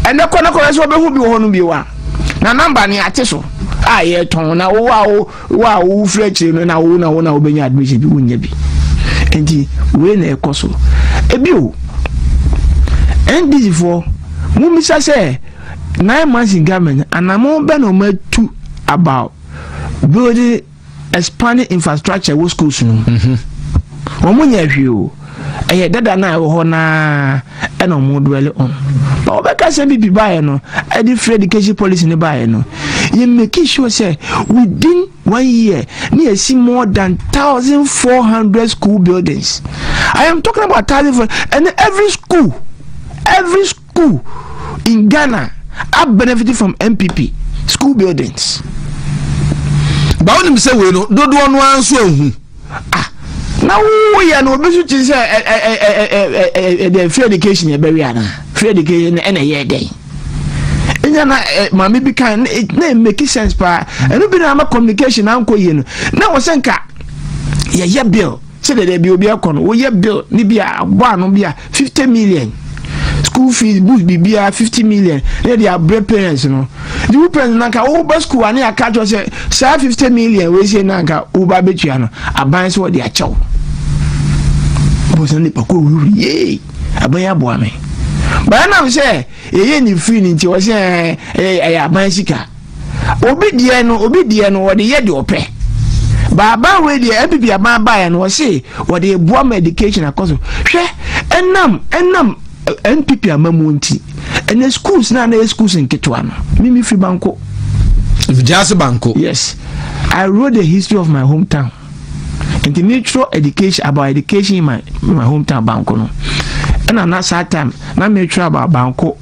ɛnɛ kɔ na kɔ sɛ ɔbɛhu bi wɔ hɔnom bi wa na namba ne ate so a yɛtɔn na wowɔ a wo Wo a wo wofiri akyire no na wo na wo na wobɛnya admission bi wonnya bi nti wei na ɛkɔ so ebio ndc foɔ mumisa sɛ nine months in government anamo bɛ na ɔmo atu about building expanding infrastructure wɔ schools no mu wɔn nyɛ hwee o. Ɛyɛ dada no a ɛwɔ hɔ no ara na wɔn dwɛle on. Ba wɔbɛka sɛ MPP baeɛ no, ɛde free education policy no baeɛ no, yɛ make sure sɛ within one year na yɛsi more than thousand four hundred school buildings. I am talking about thousand four and every school, every school. Who in Ghana are benefiting from NPP school buildings? Ba wonim sɛ wei no dodoɔ no ara nso ahu. Ah, na woyɛ no obi so kyi sɛ ɛdɛ free education ɛbɛwe ana free education ɛna ɛyɛ dɛn ɛnya na maame bi kan na make sense paa ɛno bi na ama communication ankɔ yie no na wɔ sɛ nka yɛyɛ bill Sɛ dɛdɛ bi obi ɛkɔ no woyɛ bill ne bi a abɔ ano bi a fifty million school fees books biribiara fifty million na yɛde abrɛ parents no de wo parents na nka woba school a ne yɛaka kyerɛ sɛ saa fifty million wɔasie na nka woba abɛtua no aban sɛ wɔde akyɛw bɔsɛ nipa kɔ wuri yee aban yɛ aboa me baanam sɛ yɛyɛ ne firi no nti wɔ sɛ ɛyɛ aban sika Obi deɛ no, obi deɛ no, ɔde yɛ deɛ ɔpɛ. Baaban wei deɛ MPP aban baeɛ no ɔse ɔde eboa ma education akɔ so. Hwɛ ɛnam ɛnam MPP amamuo nti ɛnɛ schools na na yɛ schools nketewa no mimi firi banko. Vigyase banko. Yes, I wrote the history of my hometown. Nti mi twerɛ education about education in my my hometown banko no. Ɛna na saa time na mi twerɛ about banko.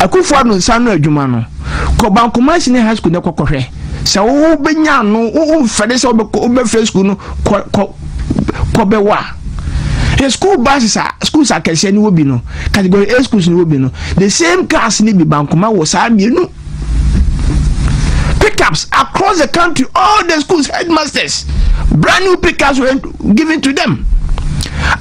Akufo Addo nsa ano adwuma no, kɔ Bankumah Senior High School na kɔ kɔhwɛ. Sɛ wobɛnya ano, womfɛre sɛ wobɛfrɛ school no kɔ kɔ kɔ bɛwɔ a. Hwɛ school buses a schools akɛseɛ no wɔ bi no, category A schools no wɔ bi no, the same cars no bi Bankumah wɔ saa mmienu. pickups across the country all the schools headmasters brand new pickups were given to them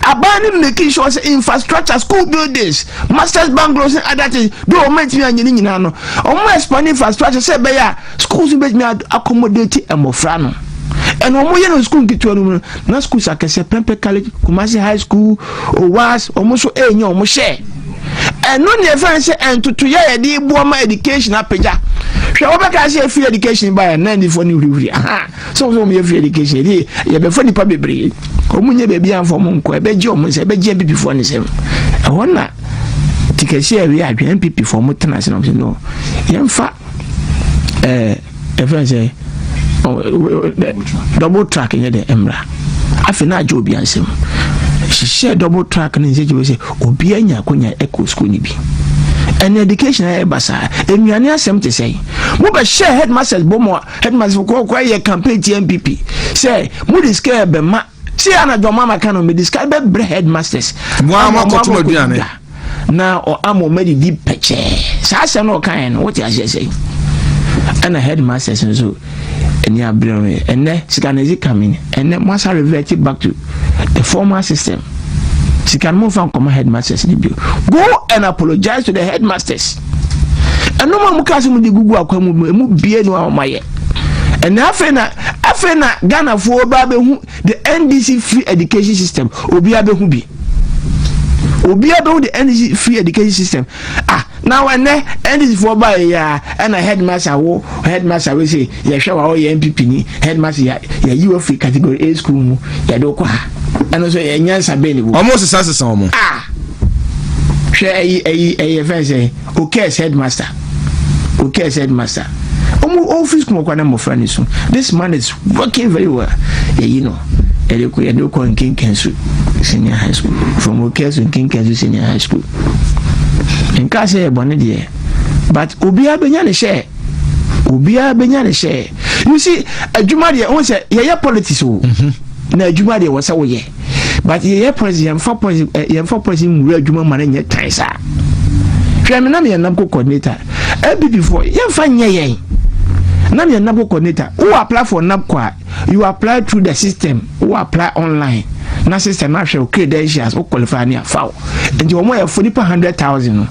aban no making sure sɛ infrastructure school buildings masters bungalows and other things bi wɔn mɛtumi anyɛ ne nyinaa no wɔn expand infrastructure sɛ ɛbɛyɛ a schools bɛtumi accommodate mmɔfra no ɛna wɔn yɛ no school nketewa no mu no Na schools akɛseɛ, Prempeh College, Kumasi High School, OWAS, wɔn nso renya wɔn hyɛ. Ɛno na ɛfɛn sɛ ntotoyɛ a yɛde boɔ ma education apagya. Hwɛ wɔbɛka sɛ free education baeɛ na nnifoɔ no hurihuri. Aha, sɛ wɔn sɛ wɔn yɛ free education yɛde yɛbɛfa nipa bebree. Wɔn nyɛ baabi anfa wɔn nkɔ, ɛbɛgye wɔn nsɛm, ɛbɛgye mpipifoɔ ne nsɛm. Ɛhɔ na tikɛsi ɛwia adwene mpp fo mo tena ase na ɔmo sɛ no yɛmfa ɛɛ. Eh, yɛfrɛ sɛ double track yɛ dɛ mmra afei na agye obi ansɛm hyehyɛ double track ne nsɛgye sɛ obi anya akonya ɛkɔ sukuu no bi ɛne education a ɛba saa nnuane asɛm te sɛn mobɛhyɛ headmasters bɔ mu a headmasters kɔkɔkɔ yɛ campaign ti npp sɛ mode sika bɛma Tie anadwo mama ka no mede sika bɛbrɛ headmasters moa ma kɔtom aduane na ɔama ɔma didi pɛkyɛɛ saa asɛm no ɔkaeɛ no wote aseɛ sɛ ɛna headmasters nso ɛni abrɛ me ɛnɛ sika no ɛdze ka me ɛnɛ moasa revert back to the former system sika no momfa nkɔma headmasters no bio go and apologize to the headmasters ɛnom a mo kaa sɛ mode gugu akwa mu mu ɛmu bie no a ɔmayɛ ɛnɛ afei na Afei na Ghana foɔ baa bɛ hu the NDC free education system obia bɛ hu bi obia bɛ hu the NDC free education system ah na wɛnɛ NDC foɔ baa yɛ ya ɛna headmaster wo headmaster wo se yɛ hwɛ wa wo yɛ NPP ni headmaster ya ya yi wa free category A school mu yɛ do kwa ɛno so yɛ nyansa bɛ ni bu ɔmo sesa sesa ɔmo ah hwɛ ɛyi ɛyi ɛyɛ fɛn sɛ O curse headmaster. O curse headmaster. Omu office kuma kwa na mmofra ne so. This man is working very well. Yeah, you know. Yɛde kɔ yɛde kɔ nkenken so senior high school from o curse nkenken so senior high school. Nka sɛ yɛ bɔne deɛ but obiara benya ne hyɛ. Obiara benya ne hyɛ. You see, adwuma deɛ wɔn sɛ yɛyɛ politics o. Mm -hmm. Na adwuma deɛ wɔsɛ wɔyɛ. but yɛyɛ poison yɛmfa poison eh, yɛmfa poison nwura adwuma ma no nyɛ tan saa hwɛ me na meyɛ nabco coordinator app foɔ yɛmfa nyɛ yɛn na meyɛ nabco coordinator wo apply for nabco a you apply through the system wo apply online na system ahwɛ wo credentials wo qualify ne afa wo nti wɔn yɛ fo nipa hundred thousand no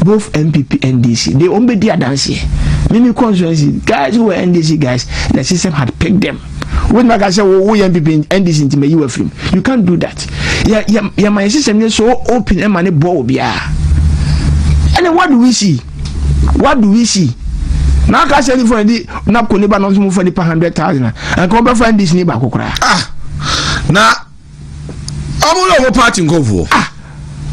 both npp ndc de wɔn bɛ di adanseɛ mimi constituency guys who were ndc guys the system had picked them. wobɛtumi aka sɛ wo woyɛ npp ndc nti mayi wafiri mu you can't do that yɛ yɛ yɛma yɛ system yɛ so open ɛma ne boɔ wɔ biara ɛne what do we see what do we see na aka sɛ nifa di napco ne ba no nso mu fa nipa hundred thousand a nka wɔbɛfa ndc ne baako koraa ah na ɔmo hwɛ ɔmo party nkorɔfoɔ. ah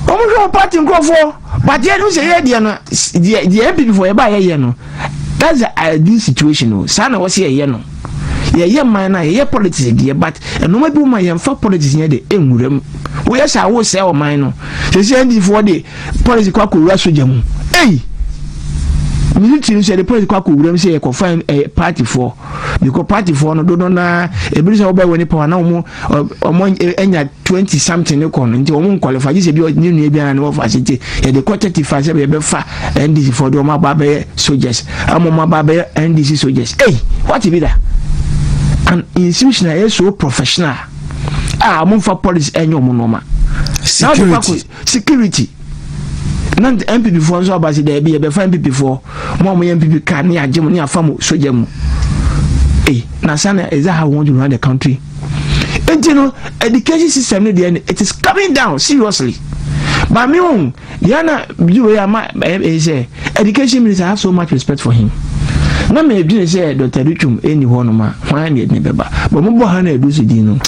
ɔmo hwɛ ɔmo party nkorɔfoɔ but yɛ no sɛ yɛ deɛ no deɛ deɛ yɛ pipifo yɛ ba yɛ yɛ no that's the ideal situation o saa na wɔsi yɛ yɛ no yɛ yɛ man na yɛ yɛ politics deɛ but ɛnoma bi wɔn a yɛn fa politics yɛ de nwura mu wɔyɛ saa wɔsɛ ɔman no sɛsɛ ndiifoɔ de politics kɔ akɔwura sogya mu ɛyi. Hey! military nso yɛde police kɔ akɔ wuram sɛ yɛkɔfa ɛɛ partyfoɔ bikɔ partyfoɔ no dodo naa ebi sɛ wɔbɛn wɔn nipa wɔn na wɔn wɔn anya twenty something ne kɔ no nti wɔn nkɔlifa gye sɛ bi ne nua bi ara ne wɔfa ase nti yɛde kɔ thirty five sɛ yɛbɛfa ndc fɔ de wɔn aba abɛyɛ soldiers ama wɔn aba abɛyɛ ndc soldiers ei wɔte bi da an institution a yɛ so professional a wɔn nfa policy ɛnyɛ wɔn nneɛma security Security na NPP foɔ nso aba se daabi yɛbɛfa NPP foɔ mo a moyɛ NPP ka ne yɛagye mo ne yɛafa mo sogya mu ei na saa na is that how we want to run the country nti no education system no deɛ it is coming down seriously but me own deɛ na biwe ama ɛyɛ sɛ education minister I have so much respect for him na mɛdwene sɛ dɔta dutwom ɛni hɔ nom a hwan ne ɛdene bɛba bɔ mobɔ ha na ɛdu so din no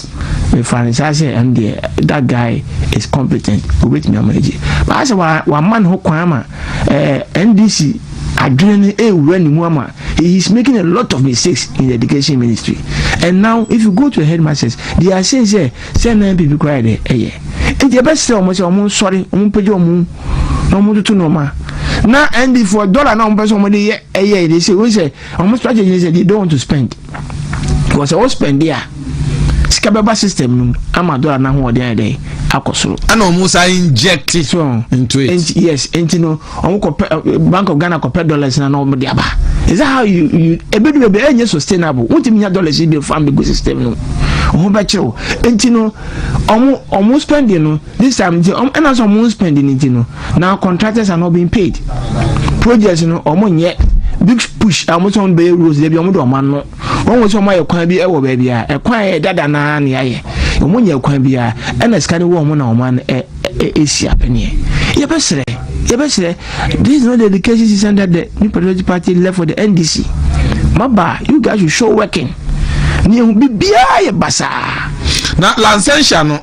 Mefaa no saa sɛ ɛno deɛ that guy is competent, obetumi ama agye. But ayɛ sɛ wa wama ne ho kwan ama ɛɛ eh, NDC adwene no ɛrewura ne mu ama he is making a lot of mistakes in the education ministry. And now if you go to the headmasters, they are saying sɛ sɛ na NPP kora yɛ dɛ ɛyɛ. Nti ɛbɛsrɛ wɔn sɛ wɔn nsɔre, wɔn mpagya wɔn na wɔn toto nneɛma. Na ND for dollar na wɔn pɛ sɛ wɔn de yɛ ɛyɛ de sɛ wɔn sɛ wɔn strategy ne sɛ they don't want to spend wɔn sɛ wɔn spend a sika bɛba system no mu ama dollar n'ahoɔden ayɛ dɛ akɔ soro. ɛna wɔn sa inject into it. yes nti no wɔn kɔ pɛ eh, bank of ghana kɔ pɛ dollars na wɔn de aba is that how you you ebi du ebi ɛnyɛ sustainable wɔn ti mi nya dollars yi de fan bi gu system no wɔn bɛ kyerɛw nti no wɔn wɔn spending no. This time nti ɔm ɛna sɛ ɔmo spend ne nti no na contractors are not being paid. Projects no ɔmo nyɛ big push a ɔmo sɛ ɔmo bɛyɛ roads dɛbi ɔmo de ɔmo ano. Wɔn wɔ sɛ ɔmo ayɛ kwan bi ɛwɔ baabi a ɛkwan yɛ dada naa ne ayɛ. Ɔmo nyɛ kwan bi a ɛna sika no wɔ ɔmo na ɔmo ano ɛ ɛ esi apɛneɛ. Yɛbɛsrɛ yɛbɛsrɛ this is not the education system that the New Patriotic Party left for the NDC. Maba you guys should show working. Ni ehu bibiara yɛ basaa. Na Lansensia no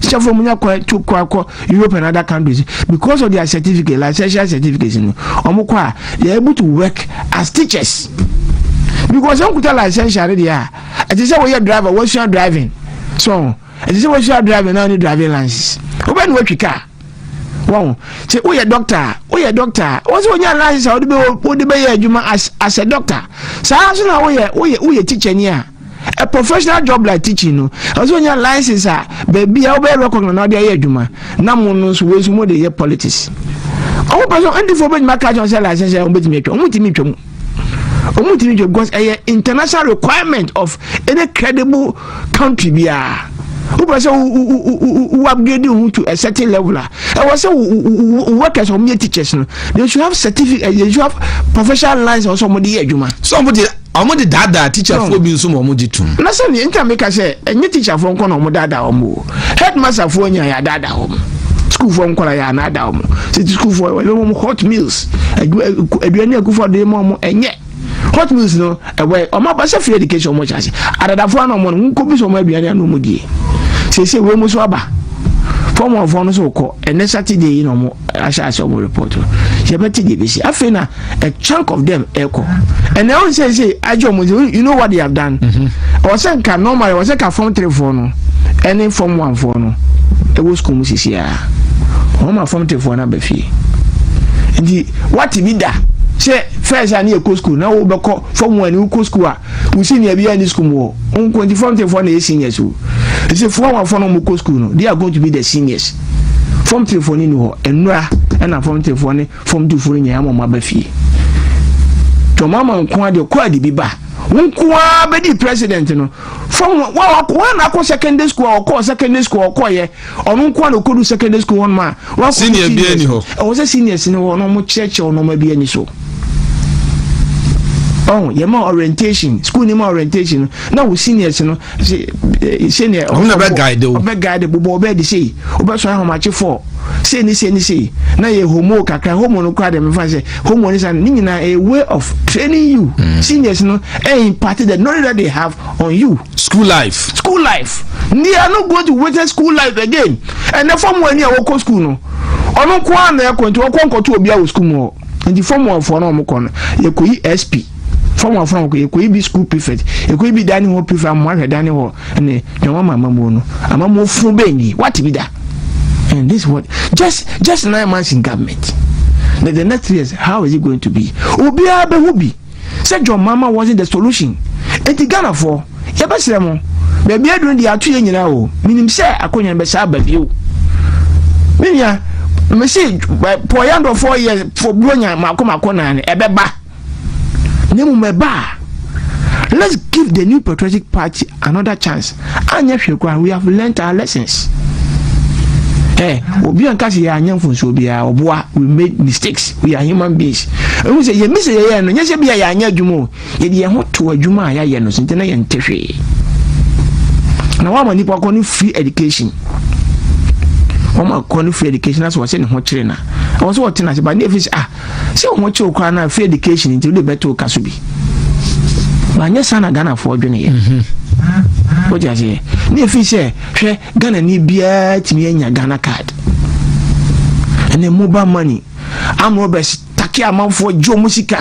teacher fo mo nya kwan to kɔ akɔ europe and other countries because of their certificate licential certificates no wɔn kɔ a they are able to work as teachers because wɔn kuta licential no deɛ a ɛte sɛ wɔyɛ driver wɔasua driving so ɛte sɛ wɔasua driving na wɔn ne driving license wɔbɛn no wɔatwi kaa wɔn sɛ woyɛ dɔkta a woyɛ dɔkta a wɔn sɛ wɔnya license a wɔde bɛ wɔde bɛyɛ adwuma as as a dɔkta saa nso na woyɛ woyɛ woyɛ teacher ni a. A professional job like teaching no, ɛwɔ sɛ onya license a baabi a wobɛyɛ recognize na ɔde ayɛ adwuma. Na mo no nso wei nso mo de yɛ politics. Ɔmo pɛ sɛ ndifo bɛtumi aka kyerɛ sɛ license a ɔmo bɛtumi atwa ɔmo ntumi ntwa mu. Ɔmo ntumi ntwa because ɛyɛ international requirement of any credible country biara. Wopɛ sɛ wo upgrade ho to a certain level a ɛwɔ sɛ wo workers ɔmo yɛ teachers no they should have certificate they should have professional license ɔsɛ ɔmo de yɛ adwuma. So ɔmo de Wɔn de daadaa tikyafoɔ bi nso ma wɔn gye tum. Na sɛ nea nka mi ka sɛ ɛnyɛ tikyafoɔ nkɔ na wɔn daadaa wɔn o. Headmasterfoɔ nyɛ yɛ adaadaa wɔn. Sukuufoɔ nkɔla yɛ anaadaa wɔn. Sɛ sukuufoɔ wɔyɛ wɔn hot meals. Aduane a akufoɔ de ma wɔn ɛnyɛ. Hot meals no ɛwɛ wɔn aba sɛ free education wɔn kyɛ ase. Adadafoɔ anam wɔn no nkɔ bi sɛ wɔn aduane anam wɔn die. Siesie wɔn mu so aba. Fɔmɔfoɔ no so kɔ ɛnɛ Saturday yi na wɔn ahyɛ ase ɔmo report no yɛbɛte deɛ ebesi afei na a chunk of them ɛkɔ ɛnna ɛwɔ sɛ ɛsɛ agye ɔmo sɛ you know what they have done ɔwɔ sɛ nka normal ɔwɔ sɛ ka fam three foɔ no ɛne fam one foɔ no ɛwɔ sukuu mu sisi a wɔn ma fam three foɔ no aba fie nti wate bi da sɛ fɛs a ne yɛ kɔ sukuu na wɔbɛkɔ fam one ne wokɔ sukuu a Wo senior biara nni sukuu mu hɔ. Wo nko nti form three foɔ na ɛyɛ seniors o. Ɛsɛ sɛ four one foɔ na wɔkɔ sukuu no, they are going to be the seniors. Form three foɔ no nni hɔ. Nnura ɛna form three foɔ ne form two foɔ no nyinaa ama wɔn aba fie. Nti wɔn ama nko adeɛ kɔ adi bi ba. Wo nko ara bɛdi president no. Form one wɔn na akɔ secondary school a wɔkɔ secondary school a wɔkɔyɛ Ɔno nko ara na ɔkɔdu secondary school hɔnom a wakɔdu senior seniors. Senior biara ni hɔ. Ɛwɔ sɛ seniors ni hɔ na wɔkyerɛkyerɛ wɔn ma bi ani so. Ɔn yɛ ma orientation school ni ma orientation no na wo seniors no se se ne. Ɔmo na bɛ guide o. Ɔbɛ guide bobɔ ɔbɛ de sei ɔbɛ sɔn ahomakye fɔ sei ni sei ni sei na yɛ homo kakra homo no kora de mi fa sɛ homo ni sa ne nyinaa a way of training you mm. seniors no ɛ eh, impart the knowledge that they have on you. School life. School life. They are not going to witness school life again. And the form one year wako school no. Ono kwa na yako nti wako nkoto obi awo school mo. Nti form one for no omoko no. Yako yi SP. Form one for no yako yi bi school prefect. Yako yi bi dining hall prefect. Mo ahwe dining hall. Ne ne wama amamu no. Amamu fun be ni. What bi da? And this what just just nine months in government. That the next years how is it going to be? Obi abehu bi. Sɛ John Mahama wasn't the solution. Enti Ghanafoɔ, yɛbɛsrɛ mo, baabi aduru no deɛ ato yɛn nyinaa o, menim sɛ akonwa no bɛsan aba bio. Me nua, mese Paul Yandɔfoɔ yɛ for Buronya mako mako naa no, ɛbɛba. Na mmom ɛba a, let's give the new patriotic party another chance. Anyɛ hwee koraa no, we have learnt our lessons. Eh, obi a nka sɛ yɛanyɛ mfonsuo biara, ɔboa, we made mistakes, we are human beings. Ɛhu sɛ yɛn bi sɛ yɛyɛ no, nyɛ sɛ bi a yɛanyɛ adwuma o, yɛde yɛn ho to adwuma a yɛayɛ no so nti na yɛnte hwee. Na wɔama nipa kɔ no free education. Wɔma kɔ no free education na sɛ wɔsɛ ne ho kyerɛ na. Wɔn sɛ wɔte na sɛ ba ne efisɛ ah, Sɛ ɔmo kyew koraa no a free education nti wode bɛto wo ka so bi. Banyɛ saa na Ghanafoɔ dwene yɛ. Mhm. Wote aseɛ? Ne ɛfiri sɛ hwɛ Ghana ni biara tumi anya Ghana card. Ɛne mobile money. Amrobes take amanfoɔ gye ɔmo sika.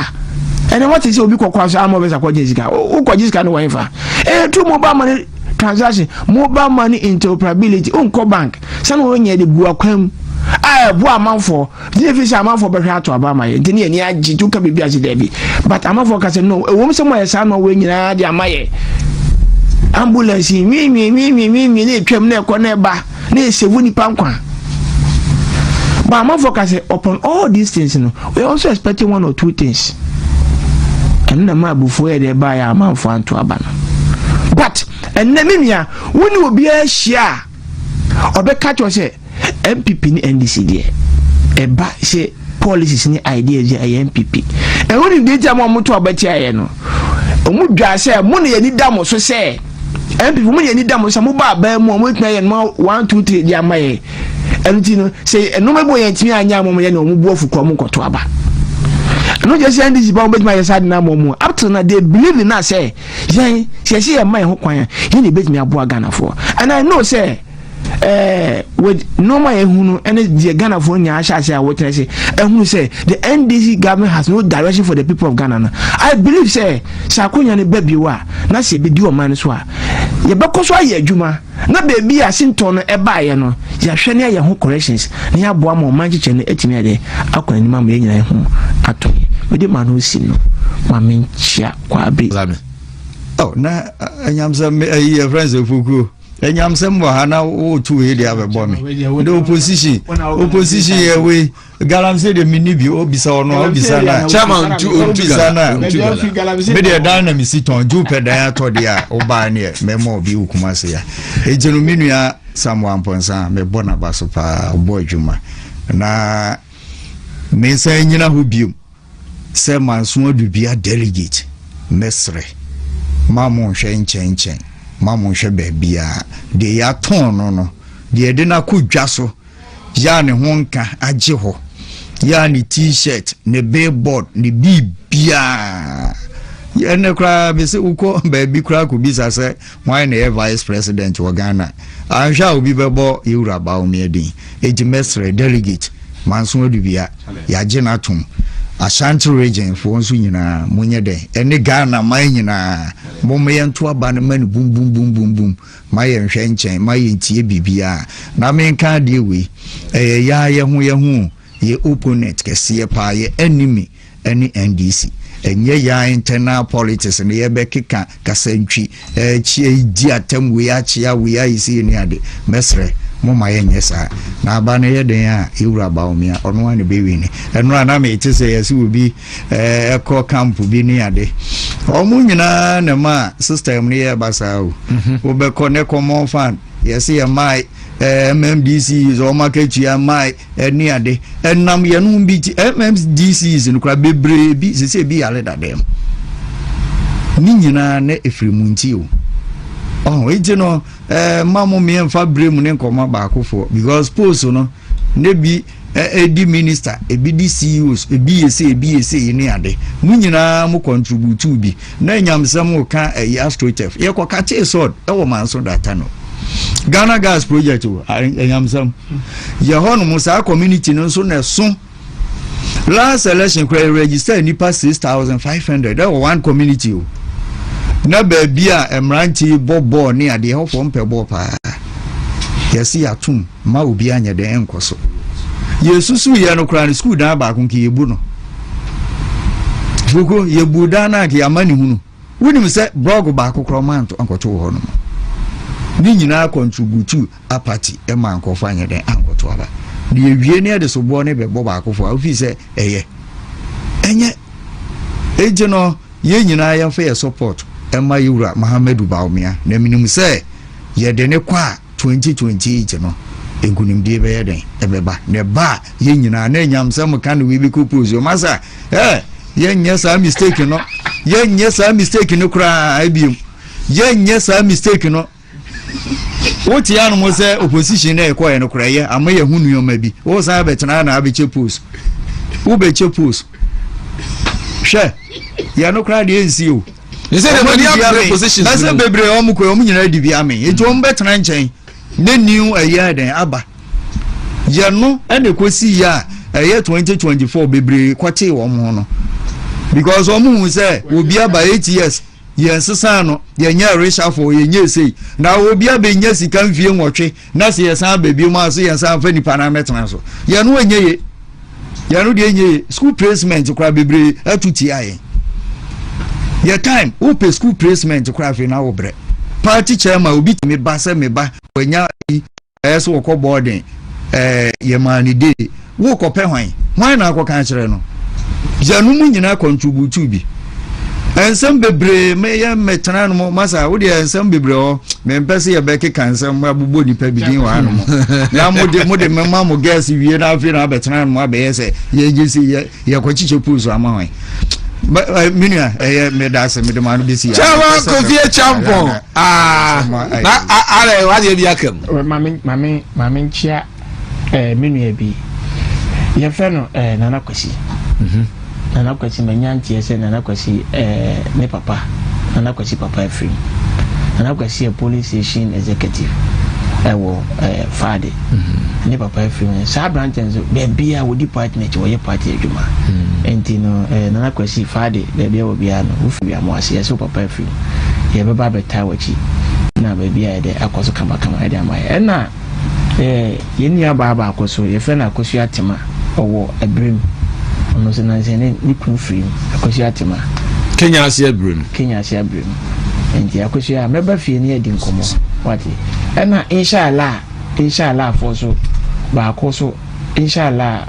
Ɛne wate sɛ obi kɔkɔ aso amrobes akɔgye sika. Wokɔgye sika no wɔ ɛmfa. Ɛyɛ through mobile money transaction mobile money interoperability wonkɔ bank sani wɔnyɛ de gu akwan mu a ɛboa amanfoɔ Gye fi sɛ amanfoɔ bɛhwɛ ato aba ama yɛn nti ne yɛn ani agye nti woka biribi ase daabi but amanfoɔ ka sɛ no ɛwom sɛ moayɛ saa nɔɔwei nyinaa de ama yɛ ambulance yi nwiinwiinwiinwiinwi na ɛtwam na ɛkɔ na ɛba na ɛsɛvu nipa nkwa but amanfoɔ ka sɛ upon all these things no we are also expecting one or two things ɛno na ma abufuo yɛ de ɛbaeɛ a amanfoɔ anto aba no but ɛnnɛ me nua wo ne obiara hyia a ɔbɛka kyerɛ sɛ npp ne ndc deɛ ɛba sɛ policies ne ideas yɛ ɛyɛ npp ɛho ne deɛ ntia ma ɔmo to abɛtia yɛ no ɔmo dwa sɛ mo na yɛni da mo so sɛ npp mo na yɛni da mo so sɛ mo ba abɛn mu a ɔmo tena yɛ no one two three deɛ ama yɛ ɛno ti no sɛ ɛnoma bi wɔ yɛn tumi anya ama ɔmo yɛ na ɔmo bu ɔfo kɔ ɔmo nkɔto aba ɛno gyɛ sɛ ndc ba ɔmo bɛtumi ayɛ saa de na ama ɔmo up till na they believe in us sɛ. Yɛn, sɛ yɛsi yɛn mma yɛn ho kwan a, yɛn na ebetumi aboa Ghanafoɔ. And I know sɛ, eh, with nneɛma a yɛhunu ɛne deɛ Ghanafoɔ nyinaa ahyɛ ase a wɔtena ase ɛhunu sɛ the NDC government has no direction for the people of Ghana no. I believe sɛ sɛ akonnwa no ba bio a na sɛ ebedi ɔman no so a yɛbɛkɔ so ayɛ adwuma na beebi a sintɔ no ɛbaeɛ no yɛahwɛ ne ayɛ ho corrections na yɛaboa ma ɔman kyekyɛ no atumi ayɛ dɛ akɔ anim ama yɛn nyinaa ho atɔ yɛ. Mede maa no osi no ma menkyia. Kwabi. Za me. Oh, na anyamsɛm me ayi yɛ friends efukuo. Anyamsɛm wɔ ha na wotu wei de abɛbɔ me. The opposition, opposition yɛ wei. Galamsey de mini bi obisa ɔno obisa na. Chairman tu obisa na. Me deɛ dan na mesi tɔn ju pɛ dan atɔ deɛ a ɔbaa neɛ mɛma obi okuma se ya. Egyinu mi nua Samuel Ampɔnsa mɛbɔ n'aba so paa ɔbɔ adwuma na me nsa nyina ho biom. Sɛ manso adu bia delegate mɛsrɛ ma mo nhwɛ nkyɛnkyɛn ma mo nhwɛ baabiaa deɛ yɛatɔn no no deɛ yɛde no akɔ dwa so yɛ a ne ho nka agye hɔ yɛ a ne t-shirt ne billboard ne biribiaa yɛ ɛnɛ koraa mese wokɔ baabi koraa kɔbisa sɛ Hwan na ɛyɛ vice president wɔ Ghana? Anhwɛ a obi bɛbɔ yɛ wura Bawumia din. Enti mɛsrɛ delegate Manso Adubia, yɛagye no atom. Ashanti region foɔ nso nyinaa monyɛ dɛn ɛne Ghana man nyinaa momma yɛnto aba no ma no bum bum bum bum bum ma yɛnhwɛ nkyɛn ma yɛntie biribiara. Na menka adeɛ wei, ɛyɛ yɛa yɛho yɛho o, yɛ opponent kɛseɛ paa, yɛ enemy. ɛne NDC. Ɛnyɛ yɛn ara internal politics na yɛbɛkeka kasantwi, ɛɛkyia yi di atam wei akyia wei ayi sei ne ade. Mɛsrɛ mo ma yɛnyɛ saa. Na aba no yɛ den a yɛwura Bawumia ɔno ara na bɛwi ne. Ɛno a na mete sɛ yɛse obi ɛkɔ eh, camp bi ne ade. Wɔn nyinaa na ɛma system no yɛ basaa o. Mhm. Wobɛkɔ ne common fan yɛse yɛ mae eh, MMDC wɔn akatua mae ɛne ade ɛnam yɛnom bi nti mmdcs no koraa bebree bi sɛ sɛ ebi yare dadam ne nyinaa na ɛfiri mu nti o ɔho nti no ɛɛ ma mo mmea mfa bere mu ne nkɔmɔ baakofoɔ because post no ne bi ɛdi minister ebi di ceos ebi yɛ sɛ ebi yɛ sɛ ne ade mo nyinaa mo contribute bi Na nyamsɛm ka ɛyɛ astroturf yɛ kɔ kakye sɔd ɛwɔ maa nso data no ghana gas project o nyamsɛm yɛ hɔ nom saa community no nso na ɛso last election kura yɛ register nipa six thousand five hundred ɛwɔ one community o na baabi a mmerante bɔ bɔɔl ne adeɛ hɔfoɔ mpɛ bɔɔl paa yɛsi atum. Mma obiara nyɛ dɛn nkɔ so. Yesusuw yɛ no koraa no, sukuu dan baako nka yebu no. Fuku, yebu dan no anka yɛama ne hunu. Wonim sɛ blɔg baako koraa ɔma nto ankɔto wɔ hɔ no mu. Ne nyinaa kɔntributu apati ma nkurɔfo anyɛ dɛn ankɔto aba. Na yɛwie ne yɛde soboɔ ne bɛbɔ baakofo a wofii sɛ ɛyɛ. Ɛnyɛ. Enti no, yɛn nyinaa yɛmfa yɛ support ɛma yɛwura Mahamadou Bawumia na menim sɛ yɛde ne kɔ a 2028 no nkunimdie bɛyɛ dɛn ɛbɛba na ɛba a yɛn nyinaa na nyamsɛm ka no we be couples yɛ masa eh yɛnyɛ saa mistake no yɛnyɛ saa mistake no koraa biom yɛnyɛ saa mistake no wote anom sɛ opposition na ɛkɔɛ no koraa yɛ ama yɛ ho nneɛma bi wosan bɛtena na abɛkyɛ post wobɛkyɛ post hwɛ yɛ no koraa deɛ nsi o ne sɛ na mani abere positions na sɛ bebree wɔn kɔ wɔn nyinaa di bi ame eti wɔn bɛtena nkyɛn ne new ɛyɛ dɛn aba yɛ no ɛna ekosi yɛ a ɛyɛ twenty twenty four bebree kɔte wɔn ho no because wɔn hu sɛ obi aba eight years yɛn sisan no yɛn nyɛ resafo yɛn nyɛ sei na obi abɛnya sika nfie nwɔtwe. na sɛ yɛsan ba bio mu a sɛ yɛsan fa nipa no amɛtena so yɛn no ɛnyɛ ye yɛn no deɛ ɛnyɛ ye school placement koraa bebree atu tia yɛn yɛ time wopɛ school placement koraa afei na wobrɛ party chairman obi tumi ba sɛ me ba wanya ɛyɛ sɛ wɔkɔ boarding ɛɛ yɛmaa ne dee Worekɔpɛ hwan? Hwan na akɔka akyerɛ no? Gya no mu nyinaa kɔntributu bi. Nsɛm bebree meyɛ mɛtena no mu masa wodeɛ nsɛm bebree hɔ mempɛ sɛ yɛbɛkeka nsɛm abobɔ nipa bi din wɔ ano mu na mode mode mema mo gas wie na afei na abɛtena no mu abɛyɛ sɛ yɛgye sɛ yɛkɔkyekyɛ pools ama hwan Eh, menua ɛyɛ eh, meda ase mede ma no bɛsi kyɛwa kofie kyampɔn na arɛ wadeɛ bi aka mu mame nkyea Eh, me nua bi yɛfrɛ no eh, nana kwasi mm -hmm. nana kwasi manya nteɛ sɛ nana kwasi eh, ne papa nana kwasi papa afiri nana kwasi yɛ police station executive ɛwɔ eh, faade mm -hmm. ne papa afiri mu saa aberantɛ nso baabi a wɔdi party no akyi wɔyɛ party adwuma mm -hmm. nti no eh, nana kwasi faade baabi a wɔ biara no wofi wiamo ase yɛsɛ wo papa afiri mu yɛbɛba abɛtaa w'akyi na baabi a yɛde akɔ so kamakama ɛde ama yɛ ɛna Yɛn nuabaa baako nso, wɔfrɛ no Akosua Tema. Ɔwɔ Abirem. Ɔno nso nansa ne ne kunu firim. Akosua Tema. Kenya ase Abirem. Kenya ase Abirem. Nti Akosua, mɛba fie ne yɛadi nkɔmmɔ. Wate? Ɛna inshallah, inshallah foɔ so baako so. Inshallah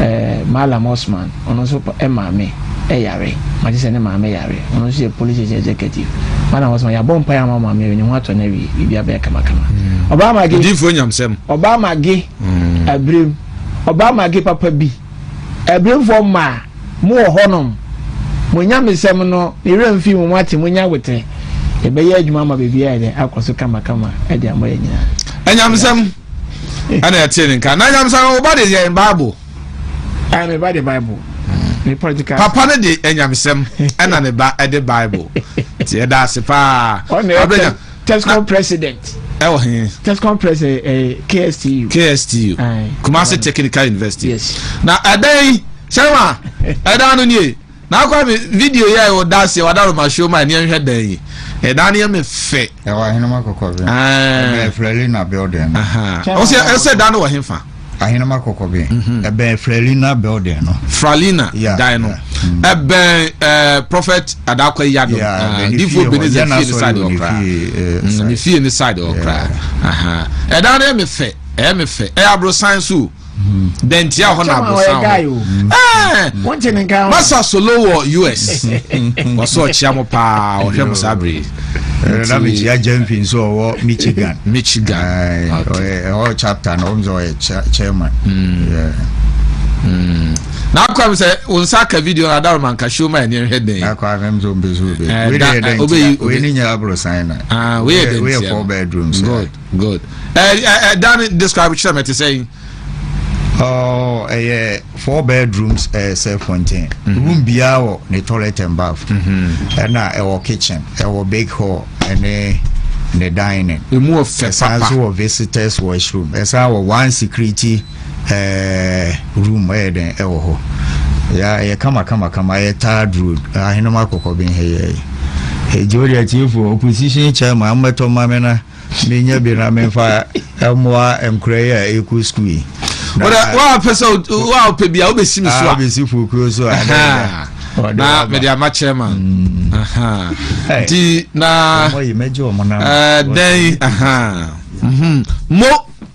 eh, Mallam Osman, ɔno nso eh, maame eh, yare. Magye sɛ ne maame yare. Ɔno nso yɛ police station executive. Mallam Osman, yɛabɔ mpaeɛ ama maame yɛ ne ho atɔ no awie. Biribi abɛyɛ kamakama. Mm. Ɔbaa mage. Odiifoɔ nyamsɛm. Ɔbaa mage. Mm. Abirem. Ɔbaa mage papa bi. Abiremfoɔ mmaa, mo wɔ hɔnom. Mo nyamesɛm no, ne werɛ mfi mo ate mo nya wetere. Ɛbɛyɛ adwuma ama baabi ayɛ dɛ akɔ so kamakama ɛde ama yɛ nyinaa. Ɛnyamsɛm. ɛna ɛte ne nka na nyamesan wo ba de yɛ bible ɛna me ba de bible ne political papa no de anyamesɛm ɛna ne ba ɛde bible ti ɛda ase paa abɛnya tescom president ɛwɔ he tescom president ɛyɛ kstu kstu kumasi technical university yes na ɛdɛn sɛma ɛdan no nie Na kwame video yi a ɛwɔ daase ɛwɔ adaroma show ma ɛni ɛnhwɛ dan yi ɛdan ni ɛmɛ fɛ. ɛwɔ ahenema kɔkɔbɛn. ɛbɛn flɛlina building. ɔsɛ ɛsɛ dan no wɔ henfa. ahenema kɔkɔbɛn mhm. ɛbɛn flɛlina building no. fralina dan no ɛbɛn ɛɛ prophet adakɔ yado difo beneze fie ni side ɔkra ne fie ni side ɔkra ɛdan ni ɛmɛ fɛ ɛmɛ fɛ ɛyɛ aburo san so. dɛn nti a hɔ na abosan hɔ ɛɛ masa solo wɔ us wɔsɔ ɔkyea mo paa ɔhwɛ mo saa bere na mekyia gyamfi nso ɔwɔ michigan michigan ɔyɛ chapter na ɔm sɛ ɔyɛ chairman na akwa mi sɛ wɔn nsa aka video na adawo ma nka show ma ɛni ɛhwɛ den. akwa mi nso mpɛ so bɛ. ɛɛ da ɛ obeyi obeyi ne nyɛ aburo san na. aa ah, weyɛ den tia no weyɛ four bedrooms. good Good. Ẹ ẹ ẹ dan describe kyerɛ mi ti sɛ yi. Oh, ɛyɛ four bedrooms ɛyɛ eh, self contained mm -hmm. room biara wɔ ne toilet and bath ɛna mm -hmm. ɛwɔ kitchen ɛwɔ big hall ɛne ne dining emu wɔ fɛ papa ɛsan so wɔ visitors washroom ɛsan wɔ one security ɛɛ eh, room ɛyɛ dɛn ɛwɔ hɔ ya ɛyɛ kama kama kama ɛyɛ third road ahenema kɔkɔ bi nhɛ yɛ ɛyɛ ɛgye o deɛ tiefo opposition chairman ammɛtɔ mmame na. menya bi na memfa mmoa nkora yi a ɛkɔ sukuu yi woapɛ sɛ woapɛ bi a wobɛsi me so a ah, bɛsi fuokuo so a na mede ama chairman mm. nti na eh, dɛn mo mhm.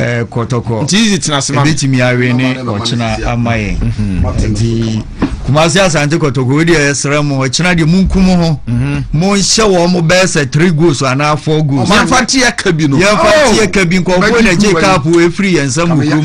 Eh, kɔtɔkɔ ɛbɛtumi awe ne ɔkyena ama yɛn mm-hmm. nti kumase asante kɔtɔkɔ wei deɛ ɛsrɛ mo ɔkyena deɛ monkum ho mm-hmm. monhyɛ wɔ mo bɛɛ sɛ three goals anaa four goals yɛmfa teɛ ka bi no yɛmfa oh! teɛ ka bi nkɔfoɔ na gye kaapo ɛfiri yɛn nsɛm mu kurom